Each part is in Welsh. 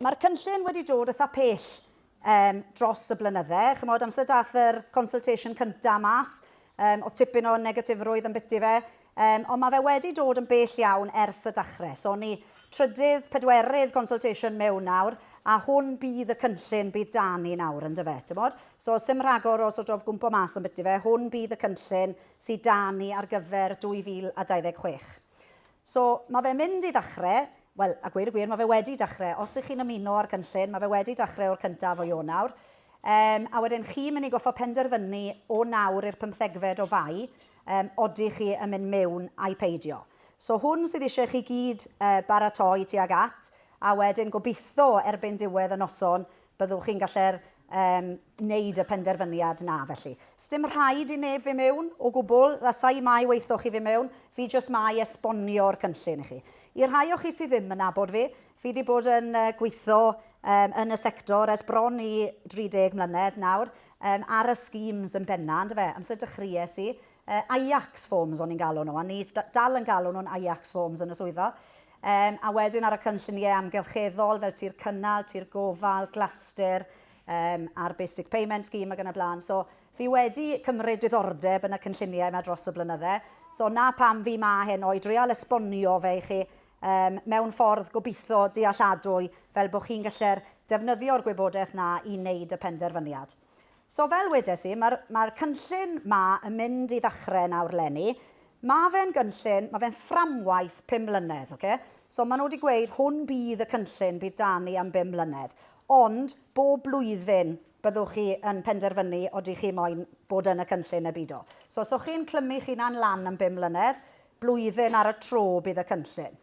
Mae'r cynllun wedi dod eitha' pell yym dros y blynydde. Chimod, amser daeth yr consultation cynta' mas, yym o'dd tipyn o negatifrwydd ambyti fe, yym ond ma' fe wedi dod yn bell iawn ers y dachre. So ni trydydd, pedwerydd consultation mewn nawr, a hwn bydd y cynllun bydd 'da ni nawr, yndyfe, timod? So 'sim rhagor o sort of gwmpo mas ambyti fe, hwn bydd y cynllun sy 'da ni ar gyfer 2026. So, mae fe'n mynd i ddechrau, wel, a gweud y gwir, mae fe wedi dechrau. Os ych chi'n ymuno â'r cynllun, mae fe wedi dechrau o'r cyntaf o Ionawr. Um, a wedyn chi'n mynd i goffa penderfynu o nawr i'r pymthegfed o fai, um, oddych chi yn mynd mewn ai peidio. So hwn sydd eisiau chi gyd uh, baratoi tuag at, a wedyn gobeithio erbyn diwedd y noson, Byddwch chi'n gallu'r um, wneud y penderfyniad na felly. Sdim rhaid i neb fy mewn o gwbl, lasai mai weithoch chi fy mewn, fi jyst mai esbonio'r cynllun i chi. I rhai o chi sydd ddim yn nabod fi, fi wedi bod yn gweithio um, yn y sector ers bron i 30 mlynedd nawr, um, ar y schemes yn benna, ynddo fe, amser dychries i, uh, Ajax forms o'n i'n galw nhw, a ni dal yn galw nhw'n Ajax forms yn y swyddfa. Yym, a wedyn ar y cynlluniau amgylcheddol fel tir cynnal, tir gofal, glastir, yym, a'r Basic Payment Scheme ac yn y blaen. So, fi wedi cymryd diddordeb yn y cynlluniau yma dros y blynydde. So, 'na pam fi 'ma heno, i dreial esbonio fe i chi um, mewn ffordd gobeithio dealladwy fel bod chi'n gallu'r defnyddio'r gwybodaeth 'na i wneud y penderfyniad. So fel wedes i, mae'r mae'r cynllun 'ma yn mynd i ddechrau nawr 'leni. Mae fe'n gynllun, mae fe'n fframwaith pum mlynedd, ocê? So maen nhw wedi gweud hwn bydd y cynllun bydd 'da ni am bum mlynedd. Ond bob blwyddyn byddwch chi yn penderfynu odych chi moyn bod yn y cynllun neu bido. So os o'ch chi'n clymu chi'n hunan lan am bum mlynedd, blwyddyn ar y tro bydd y cynllun.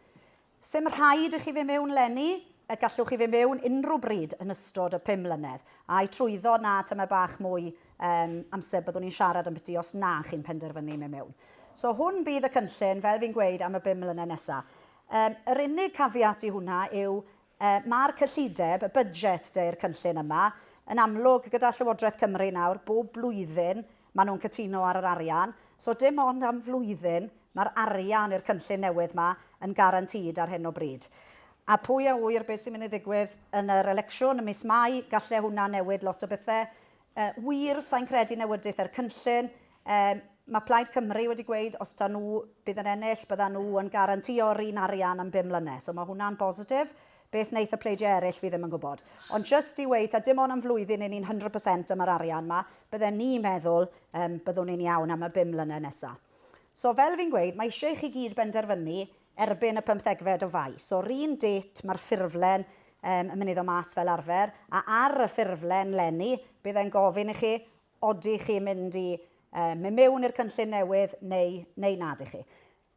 Sdim rhaid i chi fyn' mewn 'leni, y gallwch chi fyn' mewn unrhyw bryd yn ystod y pum mlynedd, a'i trwyddo 'na tymed bach mwy yym amser byddwn ni'n siarad ambyti os na chi'n penderfynu myn' mewn. So hwn bydd y cynllun, fel fi'n gweud, am y bum mlynedd nesa. Yym yr unig caveat i hwnna yw yy ma'r cyllideb, y budget 'de, i'r cynllun yma, yn amlwg gyda Llywodraeth Cymru nawr, bob blwyddyn, Maen nhw'n cytuno ar yr arian, so dim ond am flwyddyn mae'r arian i'r cynllun newydd 'ma yn guaranteed ar hyn o bryd. A pwy a ŵyr beth sy'n mynd i ddigwydd yn yr elecsiwn ym mis Mai, galle hwnna newid lot o bethe. Wir, sa i'n credu newydith er cynllun. Mae Plaid Cymru wedi gweud os ta nhw bydd yn ennill, byddan nhw yn guarantio yr un arian am bum mlynedd, so mae hwnna'n bositif. Beth wneith y pleidiau eraill fi ddim yn gwybod. Ond jyst i weud, ta dim ond am flwyddyn i ni'n hundred percent am yr arian 'ma, bydden ni'n meddwl yym byddwn ni'n iawn am y bum mlynedd nesa. So fel fi'n gweud, mae isie i chi gyd benderfynu erbyn y pymthegfed o Fai. So 'r un dêt ma'r ffurflen yym yn myn i ddod mas fel arfer, a ar y ffurflen 'leni bydd e'n gofyn i chi odych chi'n mynd i yy myn mewn i'r cynllun newydd neu neu nad 'ych chi.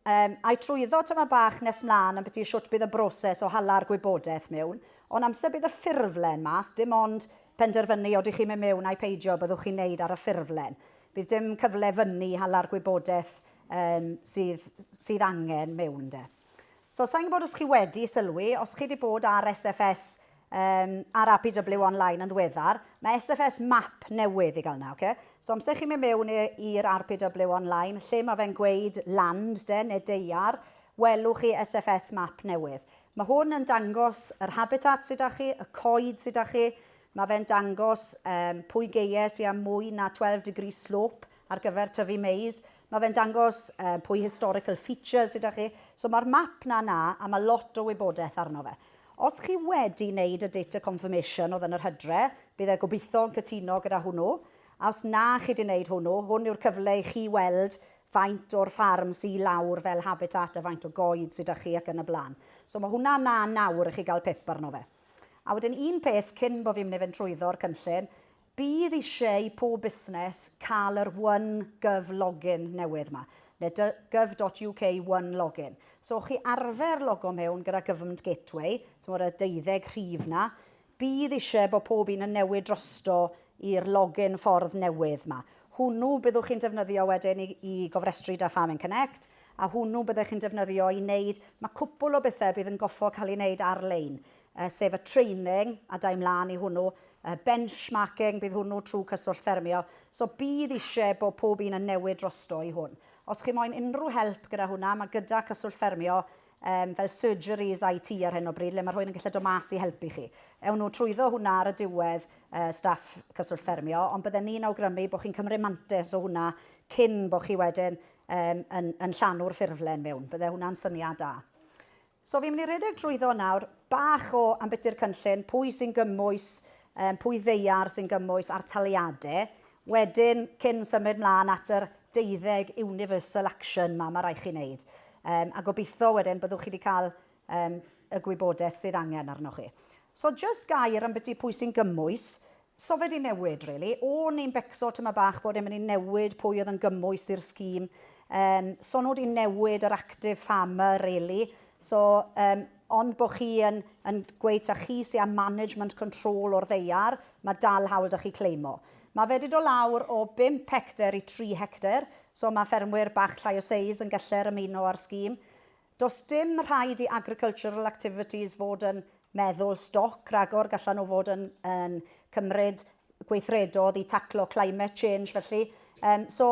Yym, ai trwyddo tymor bach nes mlan ambyti shwt bydd y broses o hala'r gwybodaeth mewn, ond amser bydd y ffurflen mas, dim ond penderfynu odych chi'n mynd mewn ai peidio byddwch chi'n neud ar y ffurflen. Bydd dim cyfle fyny hala'r gwybodaeth yym sydd sydd angen mewn de. So sai'n gwbod os chi wedi sylwi, os chi di bod ar SFS Yym, ar APW online yn ddiweddar. Mae SFS map newydd i gael yna, oce? So amser chi'n mynd mewn i'r APW online, lle mae fe'n gweud land de, neu deiar, welwch chi SFS map newydd. Mae hwn yn dangos yr habitat sydd 'da chi, y coed sydd 'da chi, mae fe'n dangos yym pwy geie sy â mwy na 12 degree slope, ar gyfer tyfu mais, ma' fe'n dangos yy pwy historical features sy 'da chi. So ma'r map 'na 'na a ma' lot o wybodeth arno fe. Os chi wedi neud y data confirmation o'dd yn yr hydre, bydd e gobitho yn cytuno gyda hwnnw. A os na chi 'di neud hwnnw, hwn yw'r cyfle i chi weld faint o'r ffarm sy i lawr fel habitat a faint o goed sy 'da chi ac yn y bla'n. So ma' hwnna 'na nawr i chi ga'l pip arno fe. A wedyn un peth cyn bo' fi'n myn' i fynd trwyddo'r cynllun, Bydd eisiau i pob busnes cael yr one gov login newydd yma, neu dy gov dot uk one login. So chi arfer logo mewn gyda Government Gateway, timod y deuddeg rhif 'na, bydd eisiau bod pob un yn newid drosto i'r login ffordd newydd 'ma. Hwnnw byddwch chi'n defnyddio wedyn i i gofrestru 'da Farming Connect, a hwnnw byddech chi'n defnyddio i wneud, mae cwpwl o bethau bydd yn goffo cael ei wneud ar-lein. sef y training a da i mlaen i hwnnw, y benchmarking, bydd hwnnw trwy Cyswllt Ffermio. So bydd eisiau bod pob un yn newid drosto i hwn. Os chi moyn unrhyw help gyda hwnna, mae gyda Cyswllt Ffermio um, fel surgeries IT ar hyn o bryd, le mae rhywun yn gallu dod mas i helpu chi. Ewn nhw trwyddo hwnna ar y diwedd, uh, staff Cyswllt Ffermio, ond bydden ni'n awgrymu bod chi'n cymryd mantes o hwnna cyn bod chi wedyn um, yn, yn llanw'r ffurflen mewn. Bydde hwnna'n syniad da. So fi'n mynd i redeg trwyddo nawr, bach o ambiti'r cynllun, pwy sy'n gymwys, yym pwy ddaear sy'n gymwys a'r taliade. Wedyn, cyn symud mlan at yr deuddeg universal action 'ma ma' rai' chi neud. Yym a gobitho wedyn byddwch chi 'di ca'l yym y gwybodeth sydd angen arnoch chi. So jyst gair ambyti pwy sy'n gymwys, So fe di newid rili. O'n i'n becso tyma bach bod e'n mynd i newid pwy oedd yn gymwys i'r scheme. Yym so nhw di newid yr active farmer rili. So yym ond bo chi yn yn gweud ta chi sy a management control o'r ddaear, ma dal hawl da chi claimo. Ma fe di do lawr o bump hecter i tri hecter, so ma ffermwyr bach llai o seis yn geller ymuno a'r scheme. Does dim rhaid i agricultural activities fod yn meddwl stoc rhagor, gallan nhw fod yn yn cymryd gweithredodd i taclo climate change felly. Yym so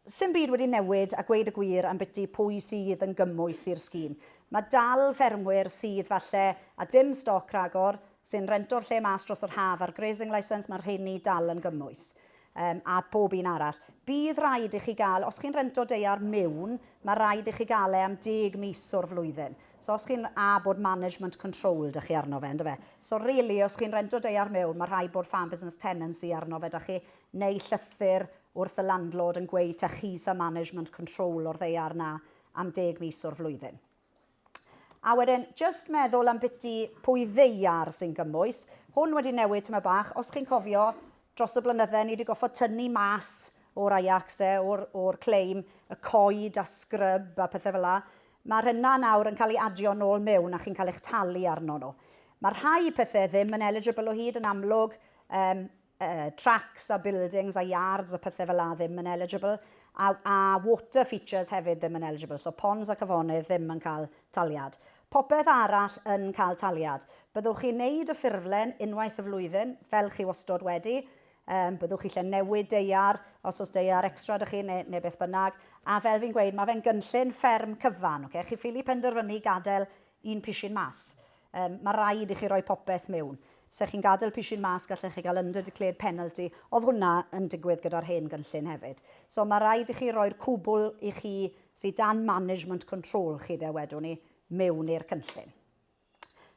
'sdim byd wedi newid a gweud y gwir ambiti pwy sydd yn gymwys i'r scheme. Mae dal ffermwyr sydd falle a dim stoc rhagor sy'n rento'r lle mas dros yr haf a'r grazing licence, mae'r rheiny dal yn gymwys. Yym, a bob un arall. Bydd raid i chi gael, os chi'n rento deiar miwn, mae raid i chi gael e am deg mis o'r flwyddyn. So os chi'n, a bod management control 'da chi arno fe, yn do fe? So rili, os chi'n rento deiar miwn, mae rhaid bod farm business tenancy arno fe 'da chi, neu llythyr wrth y landlord yn gweud 'ta chi sy'n management control o'r ddeiar 'na am deg mis o'r flwyddyn. A wedyn, jyst meddwl am biti pwy ddeiar sy'n gymwys. Hwn wedi newid tyma bach. Os chi'n cofio, dros y blynydde, ni wedi goffod tynnu mas o'r Ajax, de, o'r, or claim, y coed a scrub a pethau fel la. Mae'r hynna nawr yn cael ei adio nôl mewn a chi'n cael eich talu arno nhw. Mae rhai pethau ddim yn eligible o hyd yn amlwg, um, tracks a buildings a yards a pethau fela ddim yn eligible, a, a water features hefyd ddim yn eligible, so ponds ac afonydd ddim yn cael taliad. Popeth arall yn cael taliad. Byddwch chi'n neud y ffurflen unwaith y flwyddyn, fel chi wastod wedi, um, byddwch chi lle newid deiar, os oes deiar extra ydych chi neu, neu beth bynnag, a fel fi'n gweud, mae fe'n gynllun fferm cyfan, okay? chi ffili penderfynu gadael Un pishyn mas. Yym, ma raid i chi roi popeth mewn. Se chi'n gadel pishyn mas gallech chi gael under declared penalty. Odd hwnna yn digwydd gyda'r hen gynllun hefyd. So ma raid i chi roi'r cwbwl i chi sy dan management control chi de wedwn i, mewn i'r cynllun.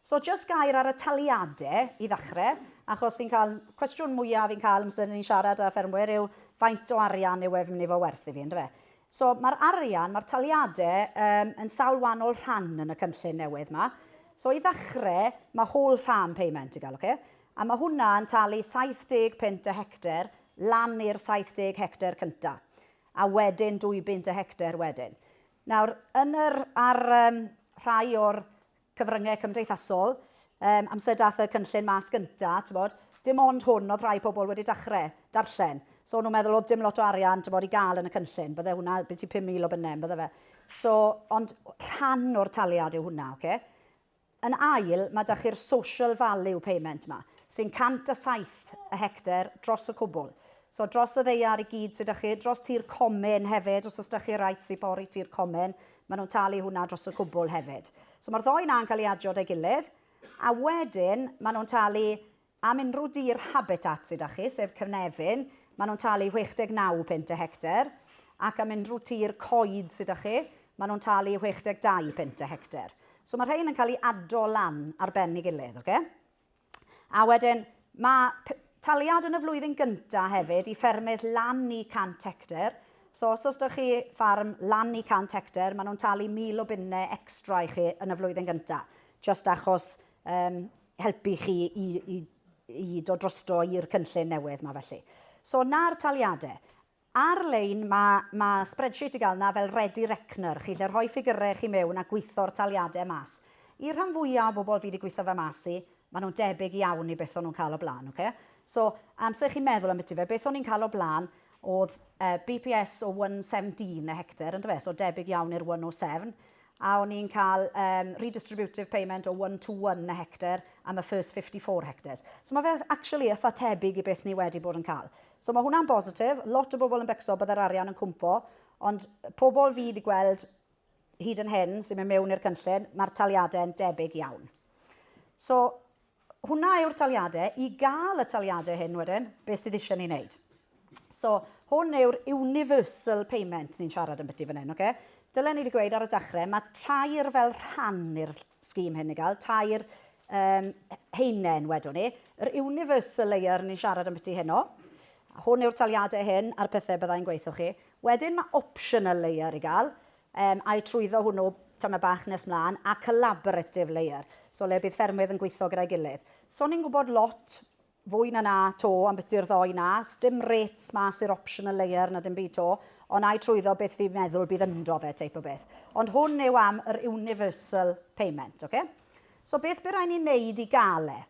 So jyst gair ar y taliade i ddachre, achos fi'n cael, cwestiwn mwya fi'n cael amser ni'n siarad â ffermwyr yw faint o arian yw e fi'n mynd i fo werth i fi, yndyfe? So, mae'r arian, mae'r taliadau yym yn sawl wahanol rhan yn y cynllun newydd yma. So, i ddechrau, mae whole farm payment i gael, ocê? A mae hwnna yn talu 70 punt y hectare lan i'r 70 hectare cyntaf, a wedyn 2 bunt y hectare wedyn. Nawr, yn yr, ar yym rhai o'r cyfryngau cymdeithasol, yym, amser daeth y cynllun mas gynta, t'mod, dim ond hwn oedd rhai pobl wedi dachre darllen. So o'n nhw'n meddwl oedd dim lot o arian, t'mod, i gael yn y cynllun, bydde hwnna byti 5,000 o bunne, bydde fe. So, ond rhan o'r taliad yw hwnna, oce? Okay? Yn ail, mae da chi'r social value payment yma, sy'n 107 y hectar dros y cwbl. So dros y ddeiar i gyd sydd da chi, dros tir comin hefyd, os oes da chi rights i bori tir comin, Maen nhw'n talu hwnna dros y cwbl hefyd. So mae'r ddou 'na'n cael eu adio 'da'i gilydd, a wedyn maen nhw'n talu am unrhyw dir habitat sy 'da chi, sef cynefin, maen nhw'n talu 69 punt y hectar, ac am unrhyw tir coed sy 'da chi, maen nhw'n talu 62 punt y hectar. So mae rhein yn cael eu ado lan ar ben ei gilydd, ocê? A wedyn, mae taliad yn y flwyddyn gyntaf hefyd i ffermydd lan i 100 hectar. So os oes da chi ffarm lan i 100 hectar, maen nhw'n talu 1,000 o bunnau extra i chi yn y flwyddyn gyntaf. Just achos um, helpu chi i, i, i dod drosto i'r cynllun newydd mae felly. So na'r taliadau. Ar-lein, mae mae spreadsheet i gael yna fel Ready Reckoner, chi lle rhoi ffigyrau chi mewn a gweithio'r taliadau mas. I'r rhan fwya o bobl fi di gweithio fe mas i, maen nhw'n debyg iawn i beth o'n nhw'n cael o blaen, ok? So, amser i chi meddwl ambiti fe, beth o'n i'n cael o blaen oedd yy BPS o one seventeen a hectare, yndyfe? So debyg iawn i'r one oh seven. a o'n ni'n cael yym redistributive payment o one to one a hectare am y first fifty four hectares. So mae fe actually eitha tebyg i beth ni wedi bod yn cael. So mae hwnna'n bositif, lot o bobl yn becso bydde'r arian yn cwmpo, ond pobl fi wedi gweld hyd yn hyn sy'n mynd mewn i'r cynllun, mae'r taliadau'n debyg iawn. So Hwnna yw'r taliadau, i gael y taliadau hyn wedyn, beth sydd eisiau ni wneud? So, hwn yw'r universal payment ni'n siarad am byti fan hyn, oce? Dylen ni wedi gweud ar y dechrau, mae tair fel rhan i'r scheme hyn i gael, tair um, heinen wedwn ni. Yr universal layer ni'n siarad am byti heno, hwn yw'r taliadau hyn a'r pethau byddai'n gweithio chi. Wedyn mae optional layer i gael, Yym, a'i trwyddo hwnnw tamed bach nes mlaen, a collaborative layer, so le bydd ffermwydd yn gweithio gyda'i gilydd. So ni'n gwybod lot fwy na 'na 'to ambiti'r ddoe 'na, sdim rates mas i'r optional layer na dim byd 'to, ond a'i trwyddo beth fi'n meddwl bydd ynddo fe teip o beth. Ond hwn yw am yr universal payment, ocê? So beth by' rai' ni neud i ga'l e?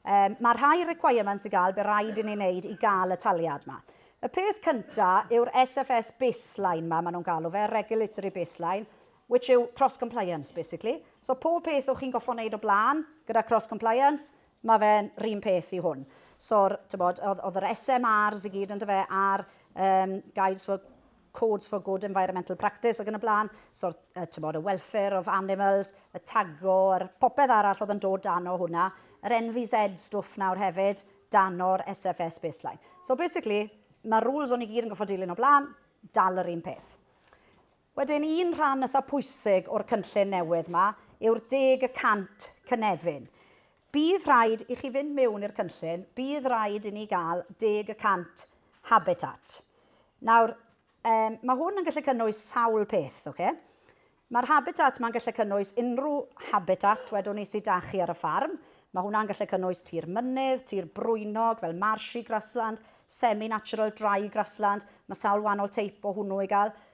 Yym, mae rhai requirements i gael, bydd rhaid i ni wneud i gael y taliad ma. Y peth cynta yw'r SFS baseline ma, maen nhw'n galw fe, regulatory baseline, which yw cross-compliance, basically. So pob peth o'ch chi'n goffo wneud o blaen gyda cross-compliance, mae fe'n rhywun peth i hwn. So'r, tybod, oedd, oedd yr SMRs i gyd, ynddo fe, a'r um, guides for Codes for Good Environmental Practice ac yn y blaen, so uh, tymod, y welfare of animals, y tago, yr popeth arall oedd yn dod dan o hwnna, yr NVZ stwff nawr hefyd, dan o'r SFS baseline. So basically, mae rules o'n i gyd yn goffod dilyn o blaen, dal yr un peth. Wedyn, un rhan ytha pwysig o'r cynllun newydd yma yw'r deg y cant cynefin. Bydd rhaid i chi fynd mewn i'r cynllun, bydd rhaid i ni gael deg y cant habitat. Nawr, um, mae hwn yn gallu cynnwys sawl peth, oce? Okay? Mae'r habitat mae'n gallu cynnwys unrhyw habitat, wedwn ni, sydd da chi ar y ffarm. Mae hwnna'n gallu cynnwys tir mynydd, tir brwynog, fel marshy grassland, semi-natural dry grassland. Mae sawl wahanol teip o hwnnw i gael.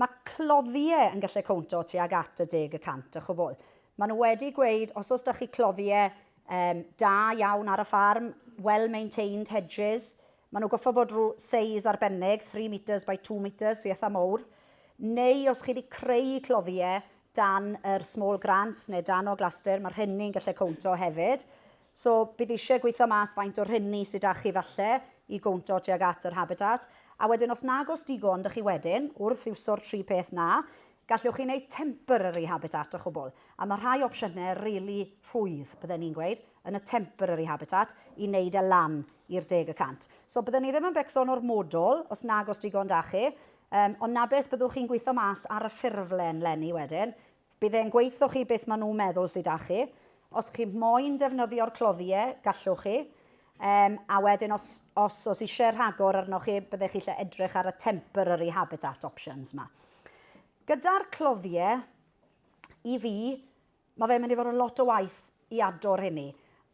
Mae cloddiau yn gallu cowntio tuag at y deg y cant a chwbl. Maen nhw wedi gweud os oes da chi cloddiau um, da iawn ar y ffarm, well maintained hedges, maen nhw goffa bod rhyw seis arbennig, 3 metres by 2 metres, so eitha mowr, neu os chi wedi creu cloddiau dan yr small grants neu dan o glastur, mae rhenni'n gallu cowntio hefyd. So bydd eisiau gweithio mas faint o rhenni sy 'da chi falle i gowntio tuag at yr habitat, a wedyn os nag oes digon 'da chi wedyn, wrth iwso'r tri peth 'na, gallwch chi wneud temporary habitat a chwbl, a ma' rhai opsiyne rili rhwydd, bydden i'n gweud, yn y temporary habitat i wneud e lan i'r deg y cant. So bydden i ddim yn becso'n ormodol os nag oes digon 'da chi, yym ond 'na beth byddwch chi'n gweithio mas ar y ffurflen 'leni wedyn, Bydd e'n gweitho chi beth ma nhw'n meddwl sy 'da chi. Os chi moyn defnyddio'r cloddiau, gallwch chi. Um, a wedyn os, os, os eisiau rhagor arnoch chi, byddech chi lle edrych ar y temporary habitat options yma. Gyda'r cloddiau, i fi, mae fe'n mynd i fod yn lot o waith i ador hynny.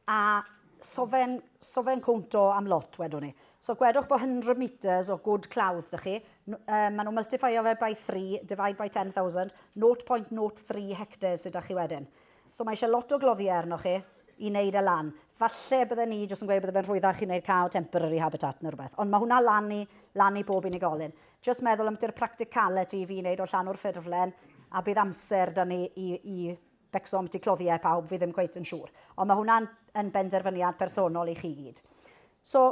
A so fe'n so fe'n cwnt o am lot wedwn i. So gwedwch bod 100 metres o gwd clawdd 'da chi, yy maen nhw'n multiffeio fe by three, divide by 10,000, 0.03 hectares sy 'da chi wedyn. So mae eisiau lot o gloddiau arnoch chi i wneud e lan. Falle bydden ni jyst yn gweud bydde fe'n rhwyddach chi wneud cael temporary habitat neu rhywbeth, ond mae hwnna lan i lan i bob unigolyn. Jyst meddwl ambiti'r practicality i fi wneud o llanw'r ffurflen a bydd amser 'da ni i i Becso ambyti cloddiau pawb fi ddim cweit yn siŵr. Ond mae hwnna'n yn benderfyniad personol i chi gyd. So,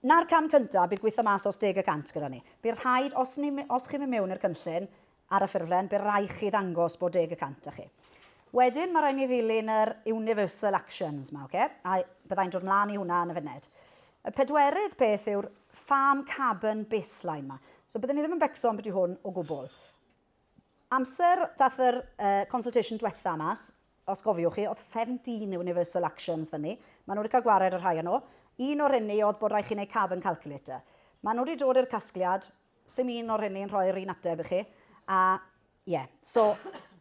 na'r cam cyntaf bydd gweithio mas os deg y cant gyda ni. Bydd rhaid, os, ni, os chi'n mynd mewn i'r cynllun ar y ffurflen, bydd rhaid chi ddangos bod deg y cant â chi. Wedyn mae rhaid ni ddilyn yr universal actions yma, okay? a byddai'n dod mlaen i hwnna yn y funed. Y pedwerydd peth yw'r farm carbon baseline yma. So byddwn ni ddim yn becso ambiti hwn o gwbl. Amser dath yr consultation dwetha mas, os gofiwch chi, o'dd 17 universal actions fynny. Ma' nw 'di ca'l gwared ar rhai o nw. Un o'r rheiny o'dd bod raid chi neud carbon calculator. Ma' nw 'di dod i'r casgliad, sdim un o'r rheiny yn rhoi'r un ateb i chi, a ie. So,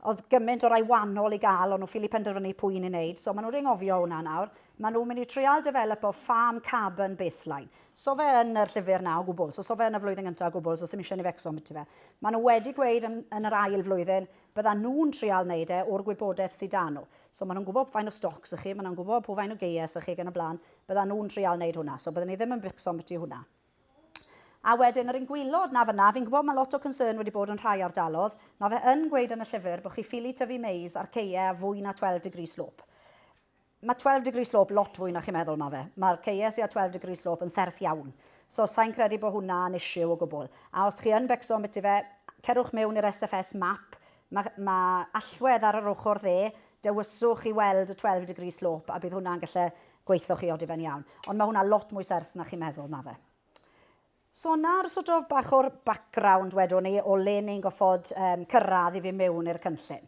o'dd gyment o rai wanol i ga'l, o'n nw ffili penderfynu pwy un i neud, so ma' nw 'di anghofio hwnna nawr. Ma' nw myn' i trial defelypo farm carbon baseline. So fe yn yr llyfr na o gwbl. So so fe yn y flwyddyn gynta o gwbl, so sim isie ni fecso ambiti fe. Ma nhw wedi gweud yn yn yr ail flwyddyn bydda nhw'n trial neud e o'r gwybodeth sy da nhw. So ma nhw'n gwbo pw faint o stocs ych chi, ma nhw'n gwbo pw faint o geies ych chi ag yn y blan, bydda nhw'n trial neud hwnna. So bydden ni ddim yn bicso ambiti hwnna. A wedyn yr un gwylod na fynna, fi'n gwbo ma lot o concern wedi bod yn rhai ardalodd, ma fe yn gweud yn y llyfr bo chi ffili tyfu mais ar ceie a fwy na 12 degree slope. Mae Twelve Degree Slope lot fwy na chi'n meddwl ma fe. Mae'r KESE a Twelve Degree Slope yn serth iawn. So sai'n credu bo hwnna yn issue o gwbl. A os chi yn becso ambiti fe, cerwch mewn i'r SFS map, ma ma allwedd ar yr ochr dde, dewyswch i weld y Twelve Degree Slope a bydd hwnna'n gallu gweitho chi oddifen iawn. Ond mae hwnna lot mwy serth na chi'n meddwl ma fe. So 'na'r sort of bach o'r background wedwn ni o le ni'n goffod um, cyrraedd i fi mewn i'r cynllun.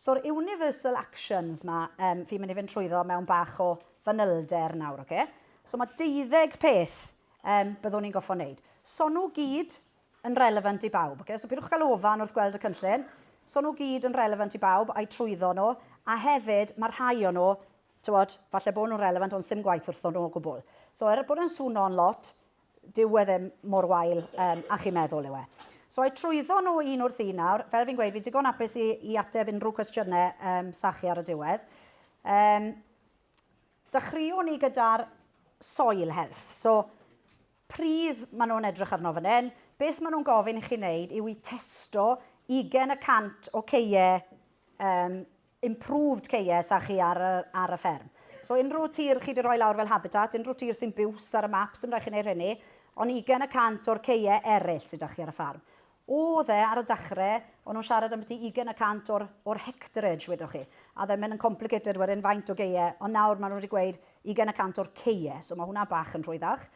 So'r universal actions ma, um, fi'n mynd i fynd trwyddo mewn bach o fanylder nawr, oce? Okay? So mae deuddeg peth um, byddwn ni'n goffo wneud. So nhw gyd yn relevant i bawb. Okay? So pidwch cael ofan wrth gweld y cynllun. So nhw gyd yn relevant i bawb a'i trwyddo nhw. A hefyd, mae rhai o'n nhw, tywod, falle bod nhw'n relevant ond sy'n gwaith wrthon nhw o gwbl. So er bod e'n swno'n lot, Dyw e ddim mor wael yym a chi'n meddwl yw e. So ai trwyddo nhw un wrth un nawr? Fel fi'n gweud, fi'n digon apus i, i ateb unrhyw cwestiynau um, sa chi ar y diwedd. Um, dechreuwn ni gyda'r soil health. So, pridd maen nhw'n edrych arno fan hyn, beth maen nhw'n gofyn i chi wneud yw i testo 20% o ceie um, improved case a chi ar y, ar y fferm. So unrhyw tir chi wedi rhoi lawr fel habitat, unrhyw tir sy'n biws ar y map, sy'n rhaid chi wneud hynny, ond ugain y cant o'r ceie eraill sydd 'da chi ar y ffarm. Oedd e, ar y dechrau, o'n nhw'n siarad am byti ugain y cant o'r, o'r hectarage, wedoch chi. A then mae'n yn complicated wedyn faint o geie, ond nawr maen nhw wedi gweud ugain y cant o'r ceie, so mae hwnna bach yn rhwyddach.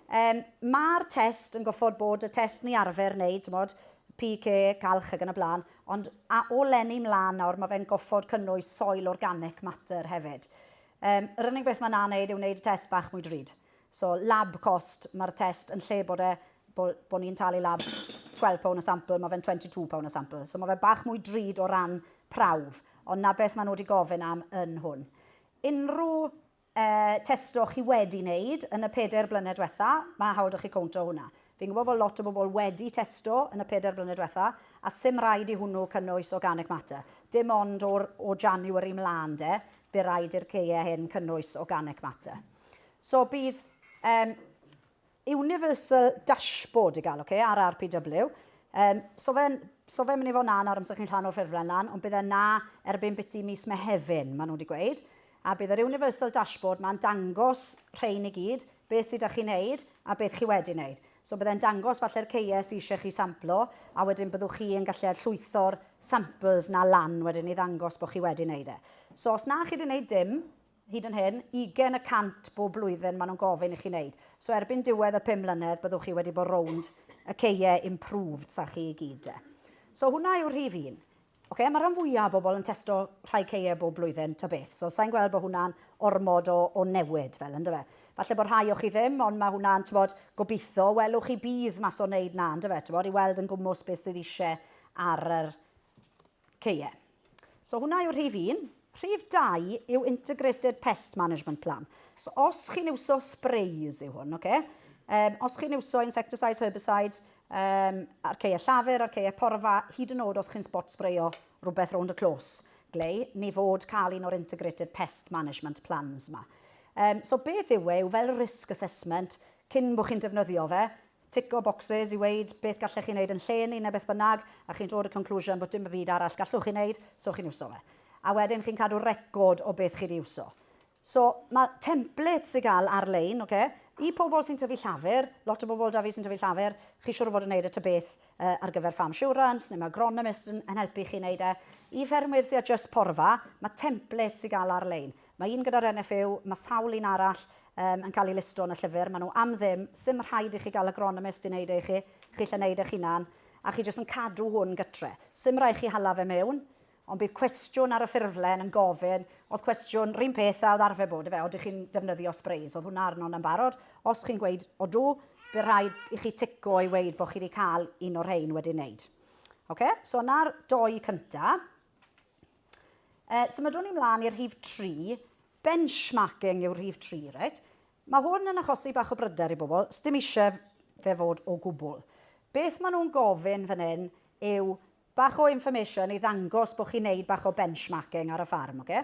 Yym, ma'r test yn goffod bod y test ni arfer wneud, t'mod, PK, calch ag yn y blaen, ond a, o lenni mlan nawr, mae fe'n goffod cynnwys soil organic matter hefyd. Um, yr unig beth mae'n na wneud yw wneud y test bach mwy drud. So, lab cost, mae'r test yn lle bod e, bo, bo ni'n talu lab 12 pound a sampl, mae fe'n 22 pound a sampl. So, mae fe bach mwy drud o ran prawf, ond na beth maen nhw wedi gofyn am yn hwn. Unrhyw y test o'ch chi wedi wneud yn y pedair blynedd diwetha, mae hawl 'da chi cowntio hwnna. Fi'n gwybod bod lot o bobl wedi testo yn y pedair blynedd diwetha, a 'sdim rhaid i hwnnw cynnwys organic matter. Dim ond o'r o January 'mlaen 'de, bu raid i'r caeau hyn cynnwys organic matter. So bydd yym Universal Dashboard i gael, ok, ar RPW. Um, so fe'n so fe mynd i fod na nawr amser chi'n llan o'r ffurflen lan, ond bydd e na erbyn biti mis Mehefin, maen nhw wedi gweud. A bydd yr Universal Dashboard ma'n dangos rhain i gyd, beth sydd â chi'n neud a beth chi wedi wneud. So bydd e'n dangos falle'r ceiau sydd eisiau chi samplo, a wedyn byddwch chi yn gallu llwytho'r samples na lan wedyn i ddangos bod chi wedi wneud e. So os na chi wedi wneud dim, Hyd yn hyn, ugain y cant bob blwyddyn maen nhw'n gofyn i chi wneud. So erbyn diwedd y pum mlynedd byddwch chi wedi bod rownd y ceie improved 'sa chi i gyd de. So hwnna yw'r rhif un. Ocê, mae rhan fwya o bobl yn testo rhai ceie bob blwyddyn ta beth, so sai'n gweld bod hwnna'n ormod o o newid fel yndyfe. Falle bod rhai o chi ddim, ond mae hwnna'n, t'mod, gobeitho, welwch chi bydd mas o wneud 'na yndyfe, t'mod, i weld yn gwmws beth sydd isie ar yr Ok, ie. So hwnna yw rhif un. Rhif dau yw Integrated Pest Management Plan. So os chi'n iwso sprays yw hwn, oce? Um, os chi'n iwso insecticides, herbicides, um, arceia llafur, arceia porfa, hyd yn oed os chi'n spot sprayo rhywbeth rownd y clos, glei, ni fod cael un o'r Integrated Pest Management Plans yma. Um, so beth yw e, yw fel risk assessment, cyn bod chi'n defnyddio fe, Tico boxes i weud beth gallech chi wneud yn lle ni neu beth bynnag, a chi'n dod y conclusion bod dim byd arall gallwch chi wneud, so chi'n iwso fe. A wedyn chi'n cadw record o beth chi 'di iwso. So, mae templates i gael ar-lein, oce? I pobl sy'n tyfu llafur, lot o bobl 'da fi sy'n tyfu llafur, chi siŵr o fod yn wneud y ta beth ar gyfer farm assurance, neu mae agronomist yn helpu chi wneud e. I ffermwyr sy â jyst porfa, mae templates i gael ar-lein. Mae un gyda'r NFU, mae sawl un arall yym yn cael eu listo yn y llyfr, maen nhw am ddim, 'sdim rhaid i chi gael agronomist i wneud e i chi, chi lle wneud eich hunan, a chi jyst yn cadw hwn gytre. 'Sdim rhaid chi hala fe mewn, ond bydd cwestiwn ar y ffurflen yn gofyn, oedd cwestiwn 'run peth a oedd arfer bod, ife, odych chi'n defnyddio sprays, oedd hwnna arno 'na'n barod, os chi'n gweud 'odw', bydd rhaid i chi tico i weud bod chi wedi cael un o'r rhein wedi wneud. Ocê, so 'na'r dou cynta. Uh, symudwn ni mlaen i'r rhif 3, benchmarking yw'r rhif 3, reit? Mae hwn yn achosi bach o bryder i bobl, sdim eisiau fe fod o gwbl. Beth maen nhw'n gofyn fan hyn yw bach o information i ddangos bod chi'n neud bach o benchmarking ar y ffarm. Okay?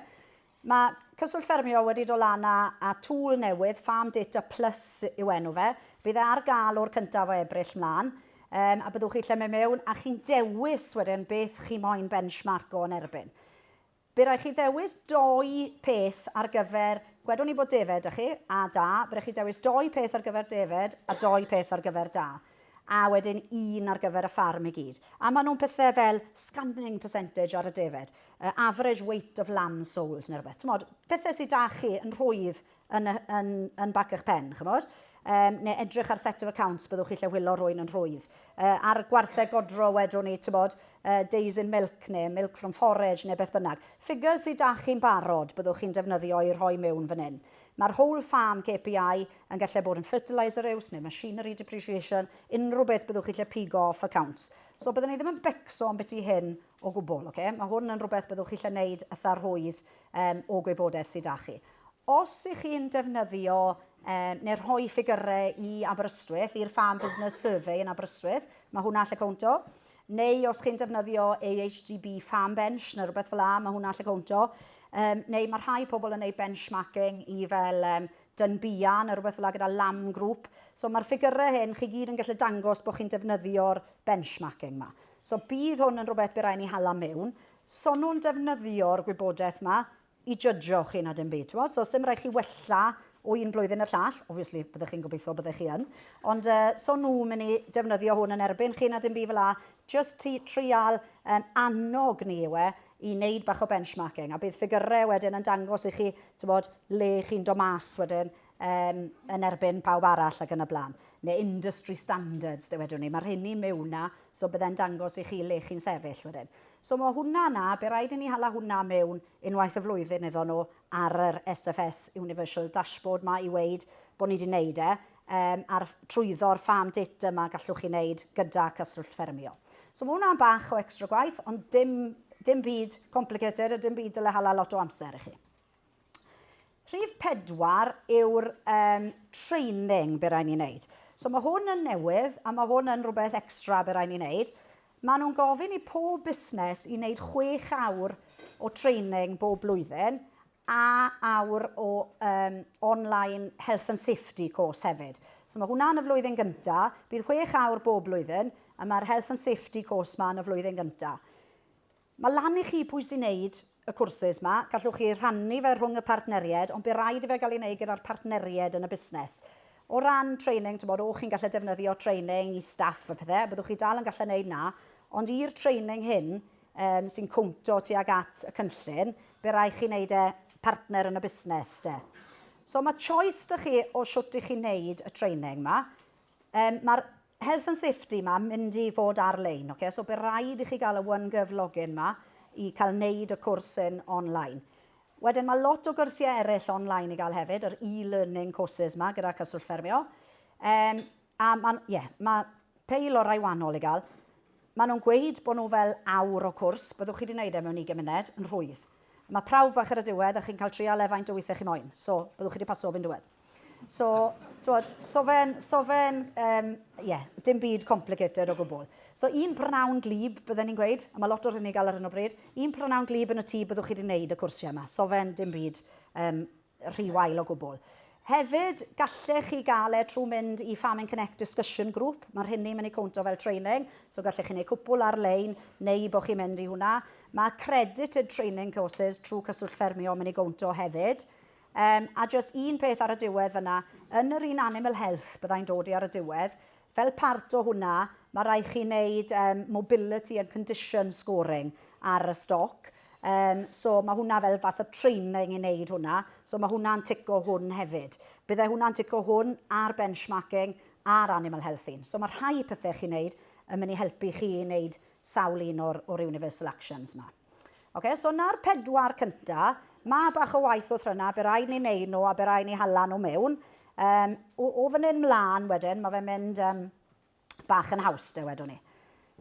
Mae Cyswllt Ffermio wedi dod lan â, a tŵl newydd, Farm Data Plus yw enw fe. Bydd e ar gael o'r cyntaf o Ebrill mlaen. um, a byddwch chi lle mae mewn, a chi'n dewis wedyn beth chi moyn benchmark o'n erbyn. Bydd rhaid chi ddewis doi peth ar gyfer, gwedwn ni bod defed ych chi, a da, bydd rhaid chi dewis doi peth ar gyfer defed a doi peth ar gyfer da. A wedyn un ar gyfer y ffarm i gyd. A maen nhw'n pethau fel scanning percentage ar y defed, uh, average weight of lamb sold neu rhywbeth. Tymod, pethau sydd da chi yn rhwydd yn y, yn, yn bac eich pen, chymod? Um, neu edrych ar set of accounts, byddwch chi lle wylo rwy'n yn rhwydd. Uh, ar gwartheg godro wedwn ni, tybod, uh, days in milk neu milk from forage neu beth bynnag. Ffigures sydd da chi'n barod byddwch chi'n defnyddio i rhoi mewn fan hyn. Mae'r whole farm KPI yn gallu bod yn fertiliser use neu machinery depreciation, unrhyw beth byddwch chi lle pigo off accounts. So byddwn ni ddim yn becso am beth i hyn O gwbl, ok. Mae hwn yn rhywbeth byddwch chi eisiau neud ytha rhwydd yym o gwybodaeth sy da chi. Os ych chi'n defnyddio yym neu rhoi ffigyrau i Aberystwyth, i'r Farm Business Survey yn Aberystwyth, mae hwnna allu cownto. Neu os chi'n defnyddio AHDB Farm Bench neu rhywbeth fel 'a, mae hwnna allu cownto. Yym neu mae rhai pobl yn neud benchmarking i fel yym Dunbia neu rhywbeth fel 'a gyda Lamb Group. So mae'r ffigyrau hyn chi gyd yn gallu dangos bod chi'n defnyddio'r benchmarking 'ma. So bydd hwn yn rhywbeth bydd rhaid i ni hala mewn. So nhw'n defnyddio'r gwybodaeth yma i jydgio chi na dim byd, ti'n gwybod? So sy'n rhaid chi wella o un blwyddyn i'r llall, obviously byddech chi'n gobeithio byddech chi yn, ond uh, so nhw'n mynd i defnyddio hwn yn erbyn chi na dim byd fel la, just ti trial um, annog ni yw e i wneud bach o benchmarking a bydd ffigurau wedyn yn dangos i chi, ti'n bod, le chi'n do mas wedyn um, yn erbyn pawb arall ac yn y blaen, neu industry standards, dywedwn ni. Mae'r hyn i mewn na, so byddai'n dangos i chi le chi'n sefyll wedyn. So mae hwnna na, be rhaid i ni hala hwnna mewn unwaith y flwyddyn iddo nhw ar yr SFS Universal Dashboard mae i weid bod ni wedi wneud e, um, ar trwyddo'r farm data yma gallwch chi wneud gyda cyswllt ffermio. So mae hwnna'n bach o extra gwaith, ond dim, dim byd complicated a dim byd dyle hala lot o amser i chi. Rhif pedwar yw'r um, training be rai ni'n neud. So mae hwn yn newydd a mae hwn yn rhywbeth extra be rai ni'n neud. Mae nhw'n gofyn i pob busnes i wneud chwech awr o training bob blwyddyn a awr o um, online health and safety course hefyd. So mae hwnna yn y flwyddyn gyntaf, bydd chwech awr bob blwyddyn, a mae'r health and safety course ma yn y flwyddyn gyntaf. Mae lan i chi pwy sy'n neud y cwrsys 'ma, gallwch chi rhannu fe rhwng y partneried ond by raid i fe gael ei neud gyda'r partneried yn y busnes. O ran training, t'mod, o'ch chi'n gallu defnyddio training i staff a pethe, a byddwch chi dal yn gallu neud 'na, ond i'r training hyn yym sy'n cowntio tuag at y cynllun, by raid chi neud e partner yn y busnes 'de. So mae choice 'da chi o shwt i chi neud y training 'ma. Yym, ma'r health and safety 'ma mynd i fod ar-lein, ocê, so by' raid i chi ga'l y OneGov login 'ma i ca'l neud y cwrs hyn on-line. Wedyn ma' lot o gyrsie eryll on-line i ga'l hefyd, yr e-learning courses 'ma gyda Cyswllt Ffermio. Yym, a ma'n, ie, ma' peil o rai wanol i ga'l. Ma' nhw'n gweud bo' nhw fel awr o cwrs, byddwch chi 'di neud e mewn ugen muned, yn rhwydd. Ma' prawf bach ar y diwedd a chi'n ca'l trial e faint o withie chi moyn, so byddwch chi 'di paso 'r un diwedd. So, twod, so fe'n, so fe'n, um, yeah, dim byd complicated o gwbl. So un prynhawn glib, bydden ni'n gweud, a mae lot o rhywun i gael ar hyn o bryd, un prynhawn glib yn y tŷ byddwch chi wedi gwneud y cwrsiau yma. So fe'n dim byd um, rhy wael o gwbl. Hefyd, gallech chi gael e trwy mynd i Farming Connect Discussion Group. Mae'r hyn ni'n mynd i cwntio fel training, so gallech chi wneud cwpl ar-lein neu bod chi'n mynd i hwnna. Mae credited training courses trwy Cyswllt Ffermio yn mynd i gwnto hefyd. Yym, a jyst un peth ar y diwedd fan'na, yn yr un animal health, bydda i'n dod i ar y diwedd, fel part o hwnna, ma' raid chi wneud yym mobility and condition scoring ar y stoc, yym so ma' hwnna fel fath o training i wneud hwnna, so ma' hwnna'n tico hwn hefyd. Bydde hwnna'n tico hwn a'r benchmarking a'r animal health un. So ma' rhai pethe chi'n wneud yn mynd i helpu chi i wneud sawl un o'r o'r universal actions 'ma. Okay, so na'r pedwar cynta, mae bach o waith wrth rynna, be rai ni'n neud nhw a be rai ni hala nhw mewn. Um, o, o fan hyn mlaen wedyn, mae fe'n mynd um, bach yn haws, de wedwn ni.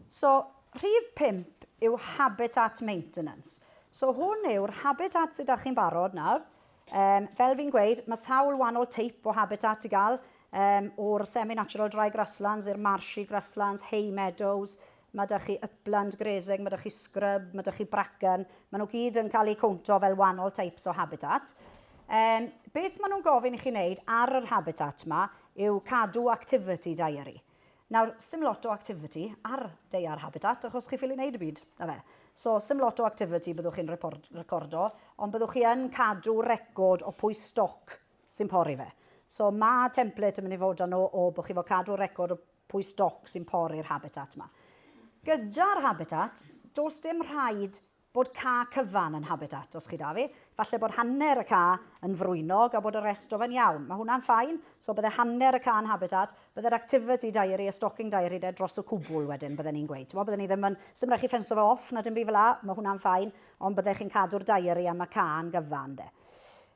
So, rhif 5 yw habitat maintenance. So, hwn yw'r habitat sydd â chi'n barod nawr. Um, fel fi'n gweud, mae sawl wahanol teip o habitat i gael, um, o'r semi-natural dry grasslands i'r marshy grasslands, hay meadows, Mae 'da chi upland grazing, mae 'da chi scrub, mae 'da chi bracken, maen nhw gyd yn cael eu cowntio fel wahanol types o habitat. Um, beth maen nhw'n gofyn i chi wneud ar yr habitat yma yw cadw activity diary. Nawr, sy'n lot o activity ar deiar habitat, achos chi ffili wneud y byd, na fe. So, sy'n lot o activity byddwch chi'n recordo, ond byddwch chi yn cadw record o pwy stoc sy'n pori fe. So, mae template yn mynd i fod â nhw o bod chi fod cadw record o pwy stoc sy'n pori'r habitat yma. Gyda'r habitat, does dim rhaid bod ca cyfan yn habitat, os chi da fi. Falle bod hanner y ca yn frwynog a bod y rest o fe'n iawn. Mae hwnna'n ffain, so bydde hanner y ca yn habitat, bydde'r activity diary, y stocking diary de dros y cwbl wedyn, bydden ni'n gweud. Bo, bydden ni ddim yn, sy'n rhaid chi ffensio fe off na dim byd fel la, mae hwnna'n ffain, ond bydde chi'n cadw'r diary am y ca yn gyfan de.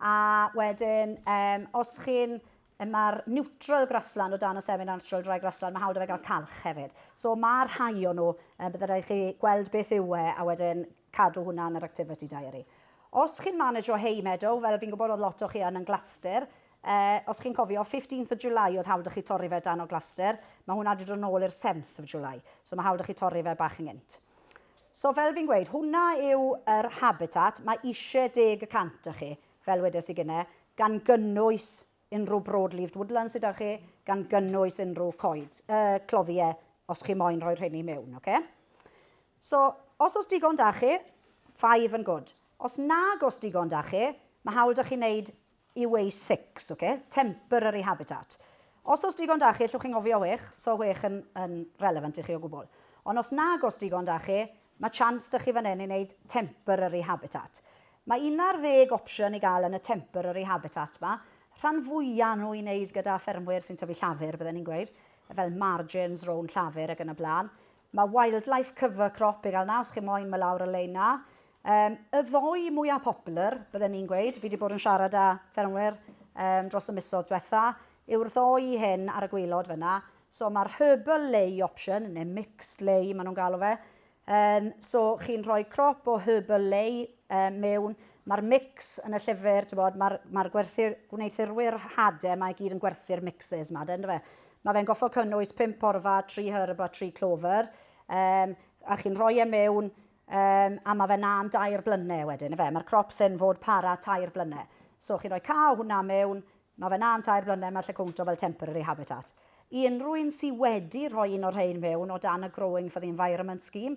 A wedyn, um, os chi'n mae'r neutral grassland o dan y semi-natural dry grassland, mae hawl da fe gael calch hefyd. So mae rhai o nhw, um, byddai rhaid chi gweld beth yw e a wedyn cadw hwnna yn yr activity diary. Os chi'n manager o hay meadow, fel fi'n gwybod oedd lot o chi yn yn Glastir, uh, os chi'n cofio, 15th of July oedd hawl da chi torri fe dan o Glastir, mae hwnna wedi dod yn ôl i'r 7th of July, so mae hawl da chi torri fe bach yn gynt. So fel fi'n gweud, hwnna yw yr habitat mae isie deg y cant o chi, fel wedes i gynne, gan gynnwys unrhyw broad-leaved woodlands sy 'da chi, gan gynnwys unrhyw coeds, uh, cloddie, os chi moyn rhoi rheini mewn, oce? So, os oes digon 'da chi, five and good. Os nag oes digon 'da chi, mae hawl 'da chi wneud yw ei sics, ok? Temporary habitat. Os oes digon da chi, allwch chi'n ngofio whech, so whech yn, yn relevant i chi o gwbl. Ond os nag oes digon da chi, mae chance da chi fan hyn i wneud temporary habitat. Mae 11 opsiwn i gael yn y temporary habitat ma. Rhan fwya nhw i wneud gyda ffermwyr sy'n tyfu llafur, bydden ni'n gweud, fel margins, rown llafur ac yn y blaen. Mae Wildlife Cover Crop i gael 'na os chi moyn, mae lawr y lein 'na. Um, y ddoi mwyaf popular, bydden ni'n gweud, fi wedi bod yn siarad â ffermwyr um, dros y misodd diwetha, yw'r ddoi hyn ar y gwylod fyna. So mae'r herbal lay option, neu mixed lay maen nhw'n galw fe. Um, so chi'n rhoi crop o herbal lay um, mewn, mae'r mix yn y llyfr, mae'r ma, gwerthir, gwneuthurwyr hade, mae gyd yn gwerthu'r mixes yma, dyn fe. Mae fe'n gorfod cynnwys pump porfa, tri herb a tri clover, um, a chi'n rhoi e mewn um, a mae fe na am dair blynedd wedyn, efe. Mae'r crops yn fod para tair blynedd. So chi'n rhoi ca o hwnna mewn, mae fe na am tair blynedd, mae'r lle cwntro fel temporary habitat. I unrhyw un sydd wedi rhoi un o'r rhain mewn o dan y Growing for the Environment Scheme,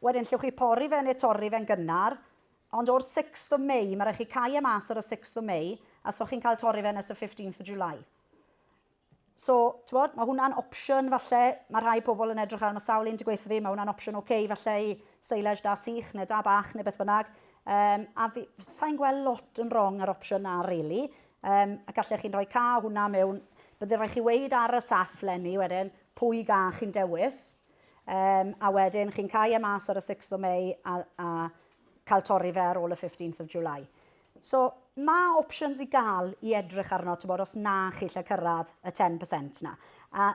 Wedyn llwch chi pori fe neu torri fe'n gynnar, ond o'r sixth of May, ma' raid chi cau e mas ar y sixth of May, a so chi'n cael torri fe nes y fifteenth of July. So, t'mod, ma' hwnna'n opsiwn falle, ma' rhai pobl yn edrych ar, ma' sawl un 'di gweutho fi, ma' hwnna'n opsiwn ocê falle i silage da sych neu da bach neu beth bynnag. Yym, a fi, sai'n gweld lot yn rong â'r opsiwn 'na rili. Yym, a gallech chi'n rhoi ca o hwnna mewn, bydde raid chi weud ar y saff leni wedyn pwy ga chi'n dewis, Yym, a wedyn chi'n cau e mas ar y 6th o May a, a cael torri fe ar ôl y 15th of July. So, mae options i gael i edrych arno, ti'n bod, os na chi lle cyrraedd y 10% na. A